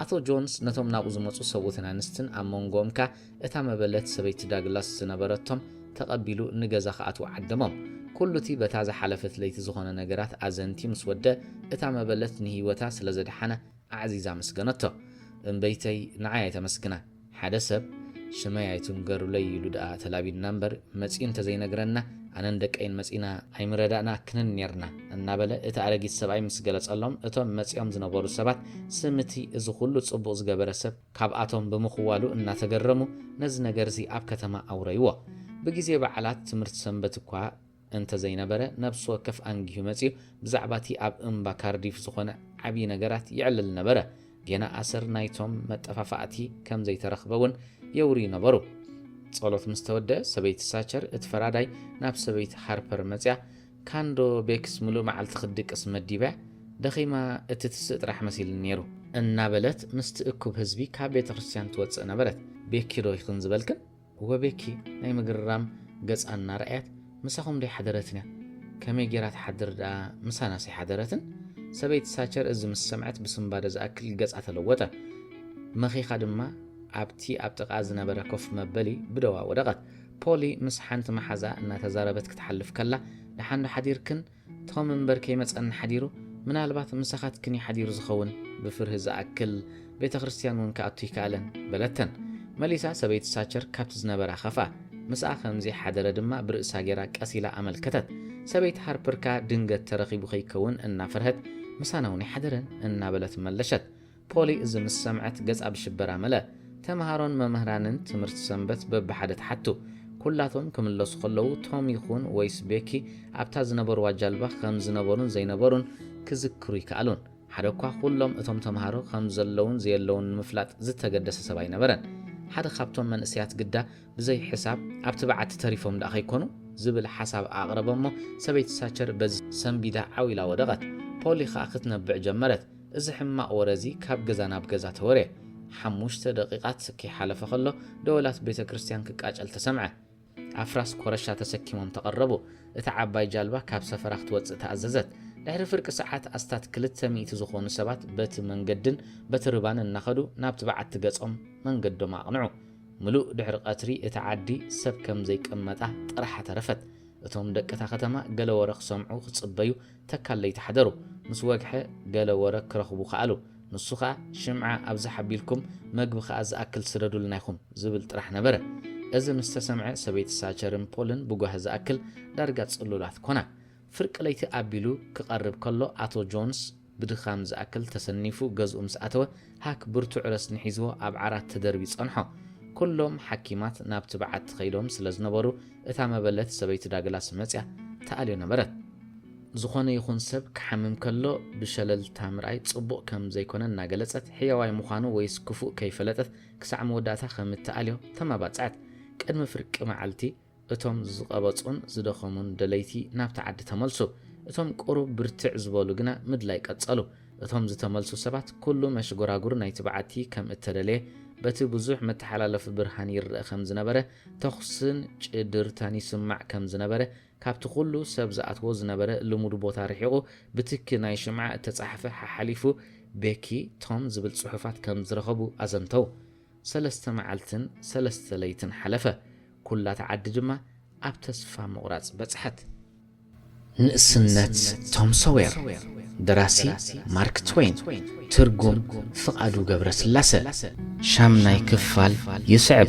ኣቶ ጆንስ ነቶም ናብኡ ዝመጹ ሰብኡትን ኣንስትን ኣብ መንጎኦም ከኣ እታ መበለት ሰበይቲ ዳግላስ ዝነበረቶም ተቐቢሉ ንገዛ ክኣትዉ ዓደሞም። ኩሉ እቲ በታ ዝሓለፈት ለይቲ ዝኾነ ነገራት ኣዘንትዩ ምስ ወደ እታ መበለት ንህይወታ ስለ ዘድሓነ ኣዕዚዛ ኣመስገነቶ። እምበይተይ ንዓይ ኣይተመስግና ሓደ ሰብ ሽመይ ኣይትንገሩለይ ኢሉ ድኣ ተላቢድና እምበር መጺኡ እንተዘይነግረና ኣነን ደቀይን መጺና ኣይምረዳእና ክንን ኔርና እናበለ እቲ ኣረጊት ሰብኣይ ምስ ገለጸሎም እቶም መጺኦም ዝነበሩ ሰባት ስም እቲ እዚ ኩሉ ጽቡቕ ዝገበረ ሰብ ካብኣቶም ብምኽዋሉ እናተገረሙ ነዚ ነገር'ዚ ኣብ ከተማ ኣውረይዎ። ብግዜ በዓላት ትምህርቲ ሰንበት እኳ እንተ ዘይነበረ፣ ነፍሲ ወከፍ ኣንጊሁ መጺኡ ብዛዕባ'ቲ ኣብ እምባ ካርዲፍ ዝዀነ ዓብዪ ነገራት የዕልል ነበረ። ጌና ኣሰር ናይቶም መጠፋፋእቲ ከም ዘይተረኽበ'ውን የውርዩ ነበሩ። ጸሎት ምስ ተወድኣ፣ ሰበይቲ ሳቸር፣ እቲ ፈራዳይ፣ ናብ ሰበይቲ ሃርፐር መጺኣ፣ ካንዶ ቤክስ ምሉእ መዓልቲ ክትድቅስ መዲባ ደኺማ እትትስእ ጥራሕ መሲልኒ ነይሩ። እናበለት ምስቲ እኩብ ህዝቢ ካብ ቤተ ክርስትያን ትወጽእ ነበረት። ቤኪዶ ኢኽን ዝበልክን? እወ ቤኪ ናይ ምግርራም ገጻ እናረኣየት ምሳኹምዶ ኣይሓደረትንያ? ከመይ ገይራ ትሓድር ደኣ ምሳናስ ኣይሓደረትን? ሰበይቲ ሳቸር እዚ ምስ ሰምዐት ብስንባደ ዝኣክል ገጻ ተለወጠ። መኺኻ ድማ ኣብቲ ኣብ ጥቓኣ ዝነበረ ኮፍ መበሊ ብደዋ ወደቐት። ፖሊ ምስ ሓንቲ መሓዝኣ እናተዛረበት ክትሓልፍ ከላ፣ ደሓንዶ ሓዲርክን? ቶም እምበር ከይመጸኒ ሓዲሩ፣ ምናልባት ምሳኻትክን እዩ ሓዲሩ ዝኸውን፣ ብፍርሂ ዝኣክል ቤተ ክርስትያን እውን ክኣቱ ኣይከኣለን። በለተን። መሊሳ ሰበይቲ ሳቸር ካብቲ ዝነበራ ኸፍኣ። ምስኣ ከም ዘይሓደረ ድማ ብርእሳ ገይራ ቀስ ኢላ ኣመልከተት። ሰበይቲ ሃርፐር ከኣ ድንገት ተረኺቡ ከይከውን እናፈርሀት ምሳና እውን ኣይሓደረን እናበለት መለሸት። ፖሊ እዚ ምስ ሰምዐት ገጻ ብሽበራ መልኣ። ተመሃሮን መምህራንን ትምህርቲ ሰንበት በብሓደ ተሓቱ። ኩላቶም ክምለሱ ከለዉ ቶም ይኹን ወይስ ቤኪ ኣብታ ዝነበርዋ ጃልባ ከም ዝነበሩን ዘይነበሩን ክዝክሩ ኣይከኣሉን። ሓደ'ኳ ኩሎም እቶም ተመሃሮ ከም ዘለዉን ዘየለዉን ንምፍላጥ ዝተገደሰ ሰብ ኣይነበረን። ሓደ ካብቶም መንእሰያት ግዳ ብዘይ ሕሳብ ኣብቲ በዓቲ ተሪፎም ደኣ ከይኮኑ? ዝብል ሓሳብ ኣቕረበ'ሞ ሰበይቲ ሳቸር በዚ ሰንቢዳ ዓው ኢላ ወደቐት። ፖሊ ከኣ ክትነብዕ ጀመረት። እዚ ሕማቕ ወረ እዚ ካብ ገዛ ናብ ገዛ ተወርየ። ሓሙሽተ ደቒቓት ከይሓለፈ ኸሎ ደወላት ቤተ ክርስትያን ክቃጨል ተሰምዐ። ኣፍራስ ኮረሻ ተሰኪሞም ተቐረቡ። እታ ዓባይ ጃልባ ካብ ሰፈራ ክትወጽእ ተኣዘዘት። ድሕሪ ፍርቂ ሰዓት ኣስታት ክልተ ሚእቲ ዝኾኑ ሰባት በቲ መንገድን በቲ ርባን እናኸዱ ናብቲ በዓቲ ገጾም መንገዶም ኣቕንዑ። ምሉእ ድሕሪ ቐትሪ እታ ዓዲ ሰብ ከም ዘይቀመጣ ጥራሓ ተረፈት። እቶም ደቂ እታ ከተማ ገለ ወረ ክሰምዑ ክጽበዩ ተካል ለይቲ ሓደሩ ምስ ወግሐ ገለ ወረ ክረኽቡ ከኣሉ። ንሱ ከኣ ሽምዓ ኣብዝሕ ኣቢልኩም መግቢ ከኣ ዝኣክል ስደዱልና ኢኹም ዝብል ጥራሕ ነበረ። እዚ ምስ ተሰምዐ ሰበይቲ ሳቸርን ፖልን ብጓሂ ዝኣክል ዳርጋ ጽሉላት ኮና። ፍርቂ ለይቲ ኣቢሉ ክቐርብ ከሎ ኣቶ ጆንስ ብድኻም ዝኣክል ተሰኒፉ ገዝኡ ምስ ኣተወ፣ ሃክ ብርቱዕ ረስኒ ሒዝዎ ኣብ ዓራት ተደርብዩ ጸንሖ። ኩሎም ሓኪማት ናብቲ በዓቲ ከይዶም ስለ ዝነበሩ፣ እታ መበለት ሰበይቲ ዳግላስ መጺኣ ትኣልዮ ነበረት። ዝኾነ ይኹን ሰብ ክሓምም ከሎ ብሸለልታ ምርኣይ ጽቡቕ ከም ዘይኮነ እናገለጸት፣ ሕያዋይ ምዃኑ ወይስ ክፉእ ከይፈለጠት ክሳዕ መወዳእታ ከም እትኣልዮ ተማባጽዐት። ቅድሚ ፍርቂ መዓልቲ፣ እቶም ዝቐበጹን ዝደኸሙን ደለይቲ ናብቲ ዓዲ ተመልሱ። እቶም ቁሩብ ብርትዕ ዝበሉ ግና ምድላይ ቀጸሉ። እቶም ዝተመልሱ ሰባት ኩሉ መሽጎራጉር ናይቲ በዓቲ ከም እተደልየ በቲ ብዙሕ መተሓላለፊ ብርሃን ይረኣ ከም ዝነበረ ተኹስን ጭድርታን ይስማዕ ከም ዝነበረ ካብቲ ኩሉ ሰብ ዝኣትዎ ዝነበረ ልሙድ ቦታ ርሒቑ ብትኪ ናይ ሽምዓ እተጻሕፈ ሓሓሊፉ ቤኪ ቶም ዝብል ጽሑፋት ከም ዝረኸቡ ኣዘንተው። ሰለስተ መዓልትን ሰለስተ ለይትን ሓለፈ፣ ኵላ እታ ዓዲ ድማ ኣብ ተስፋ ምቝራጽ በጽሐት። ንእስነት ቶም ሶዌር፣ ደራሲ፣ ማርክ ትወይን፣ ትርጉም፣ ፍቓዱ ገብረስላሰ። ሻምናይ ክፋል ይስዕብ።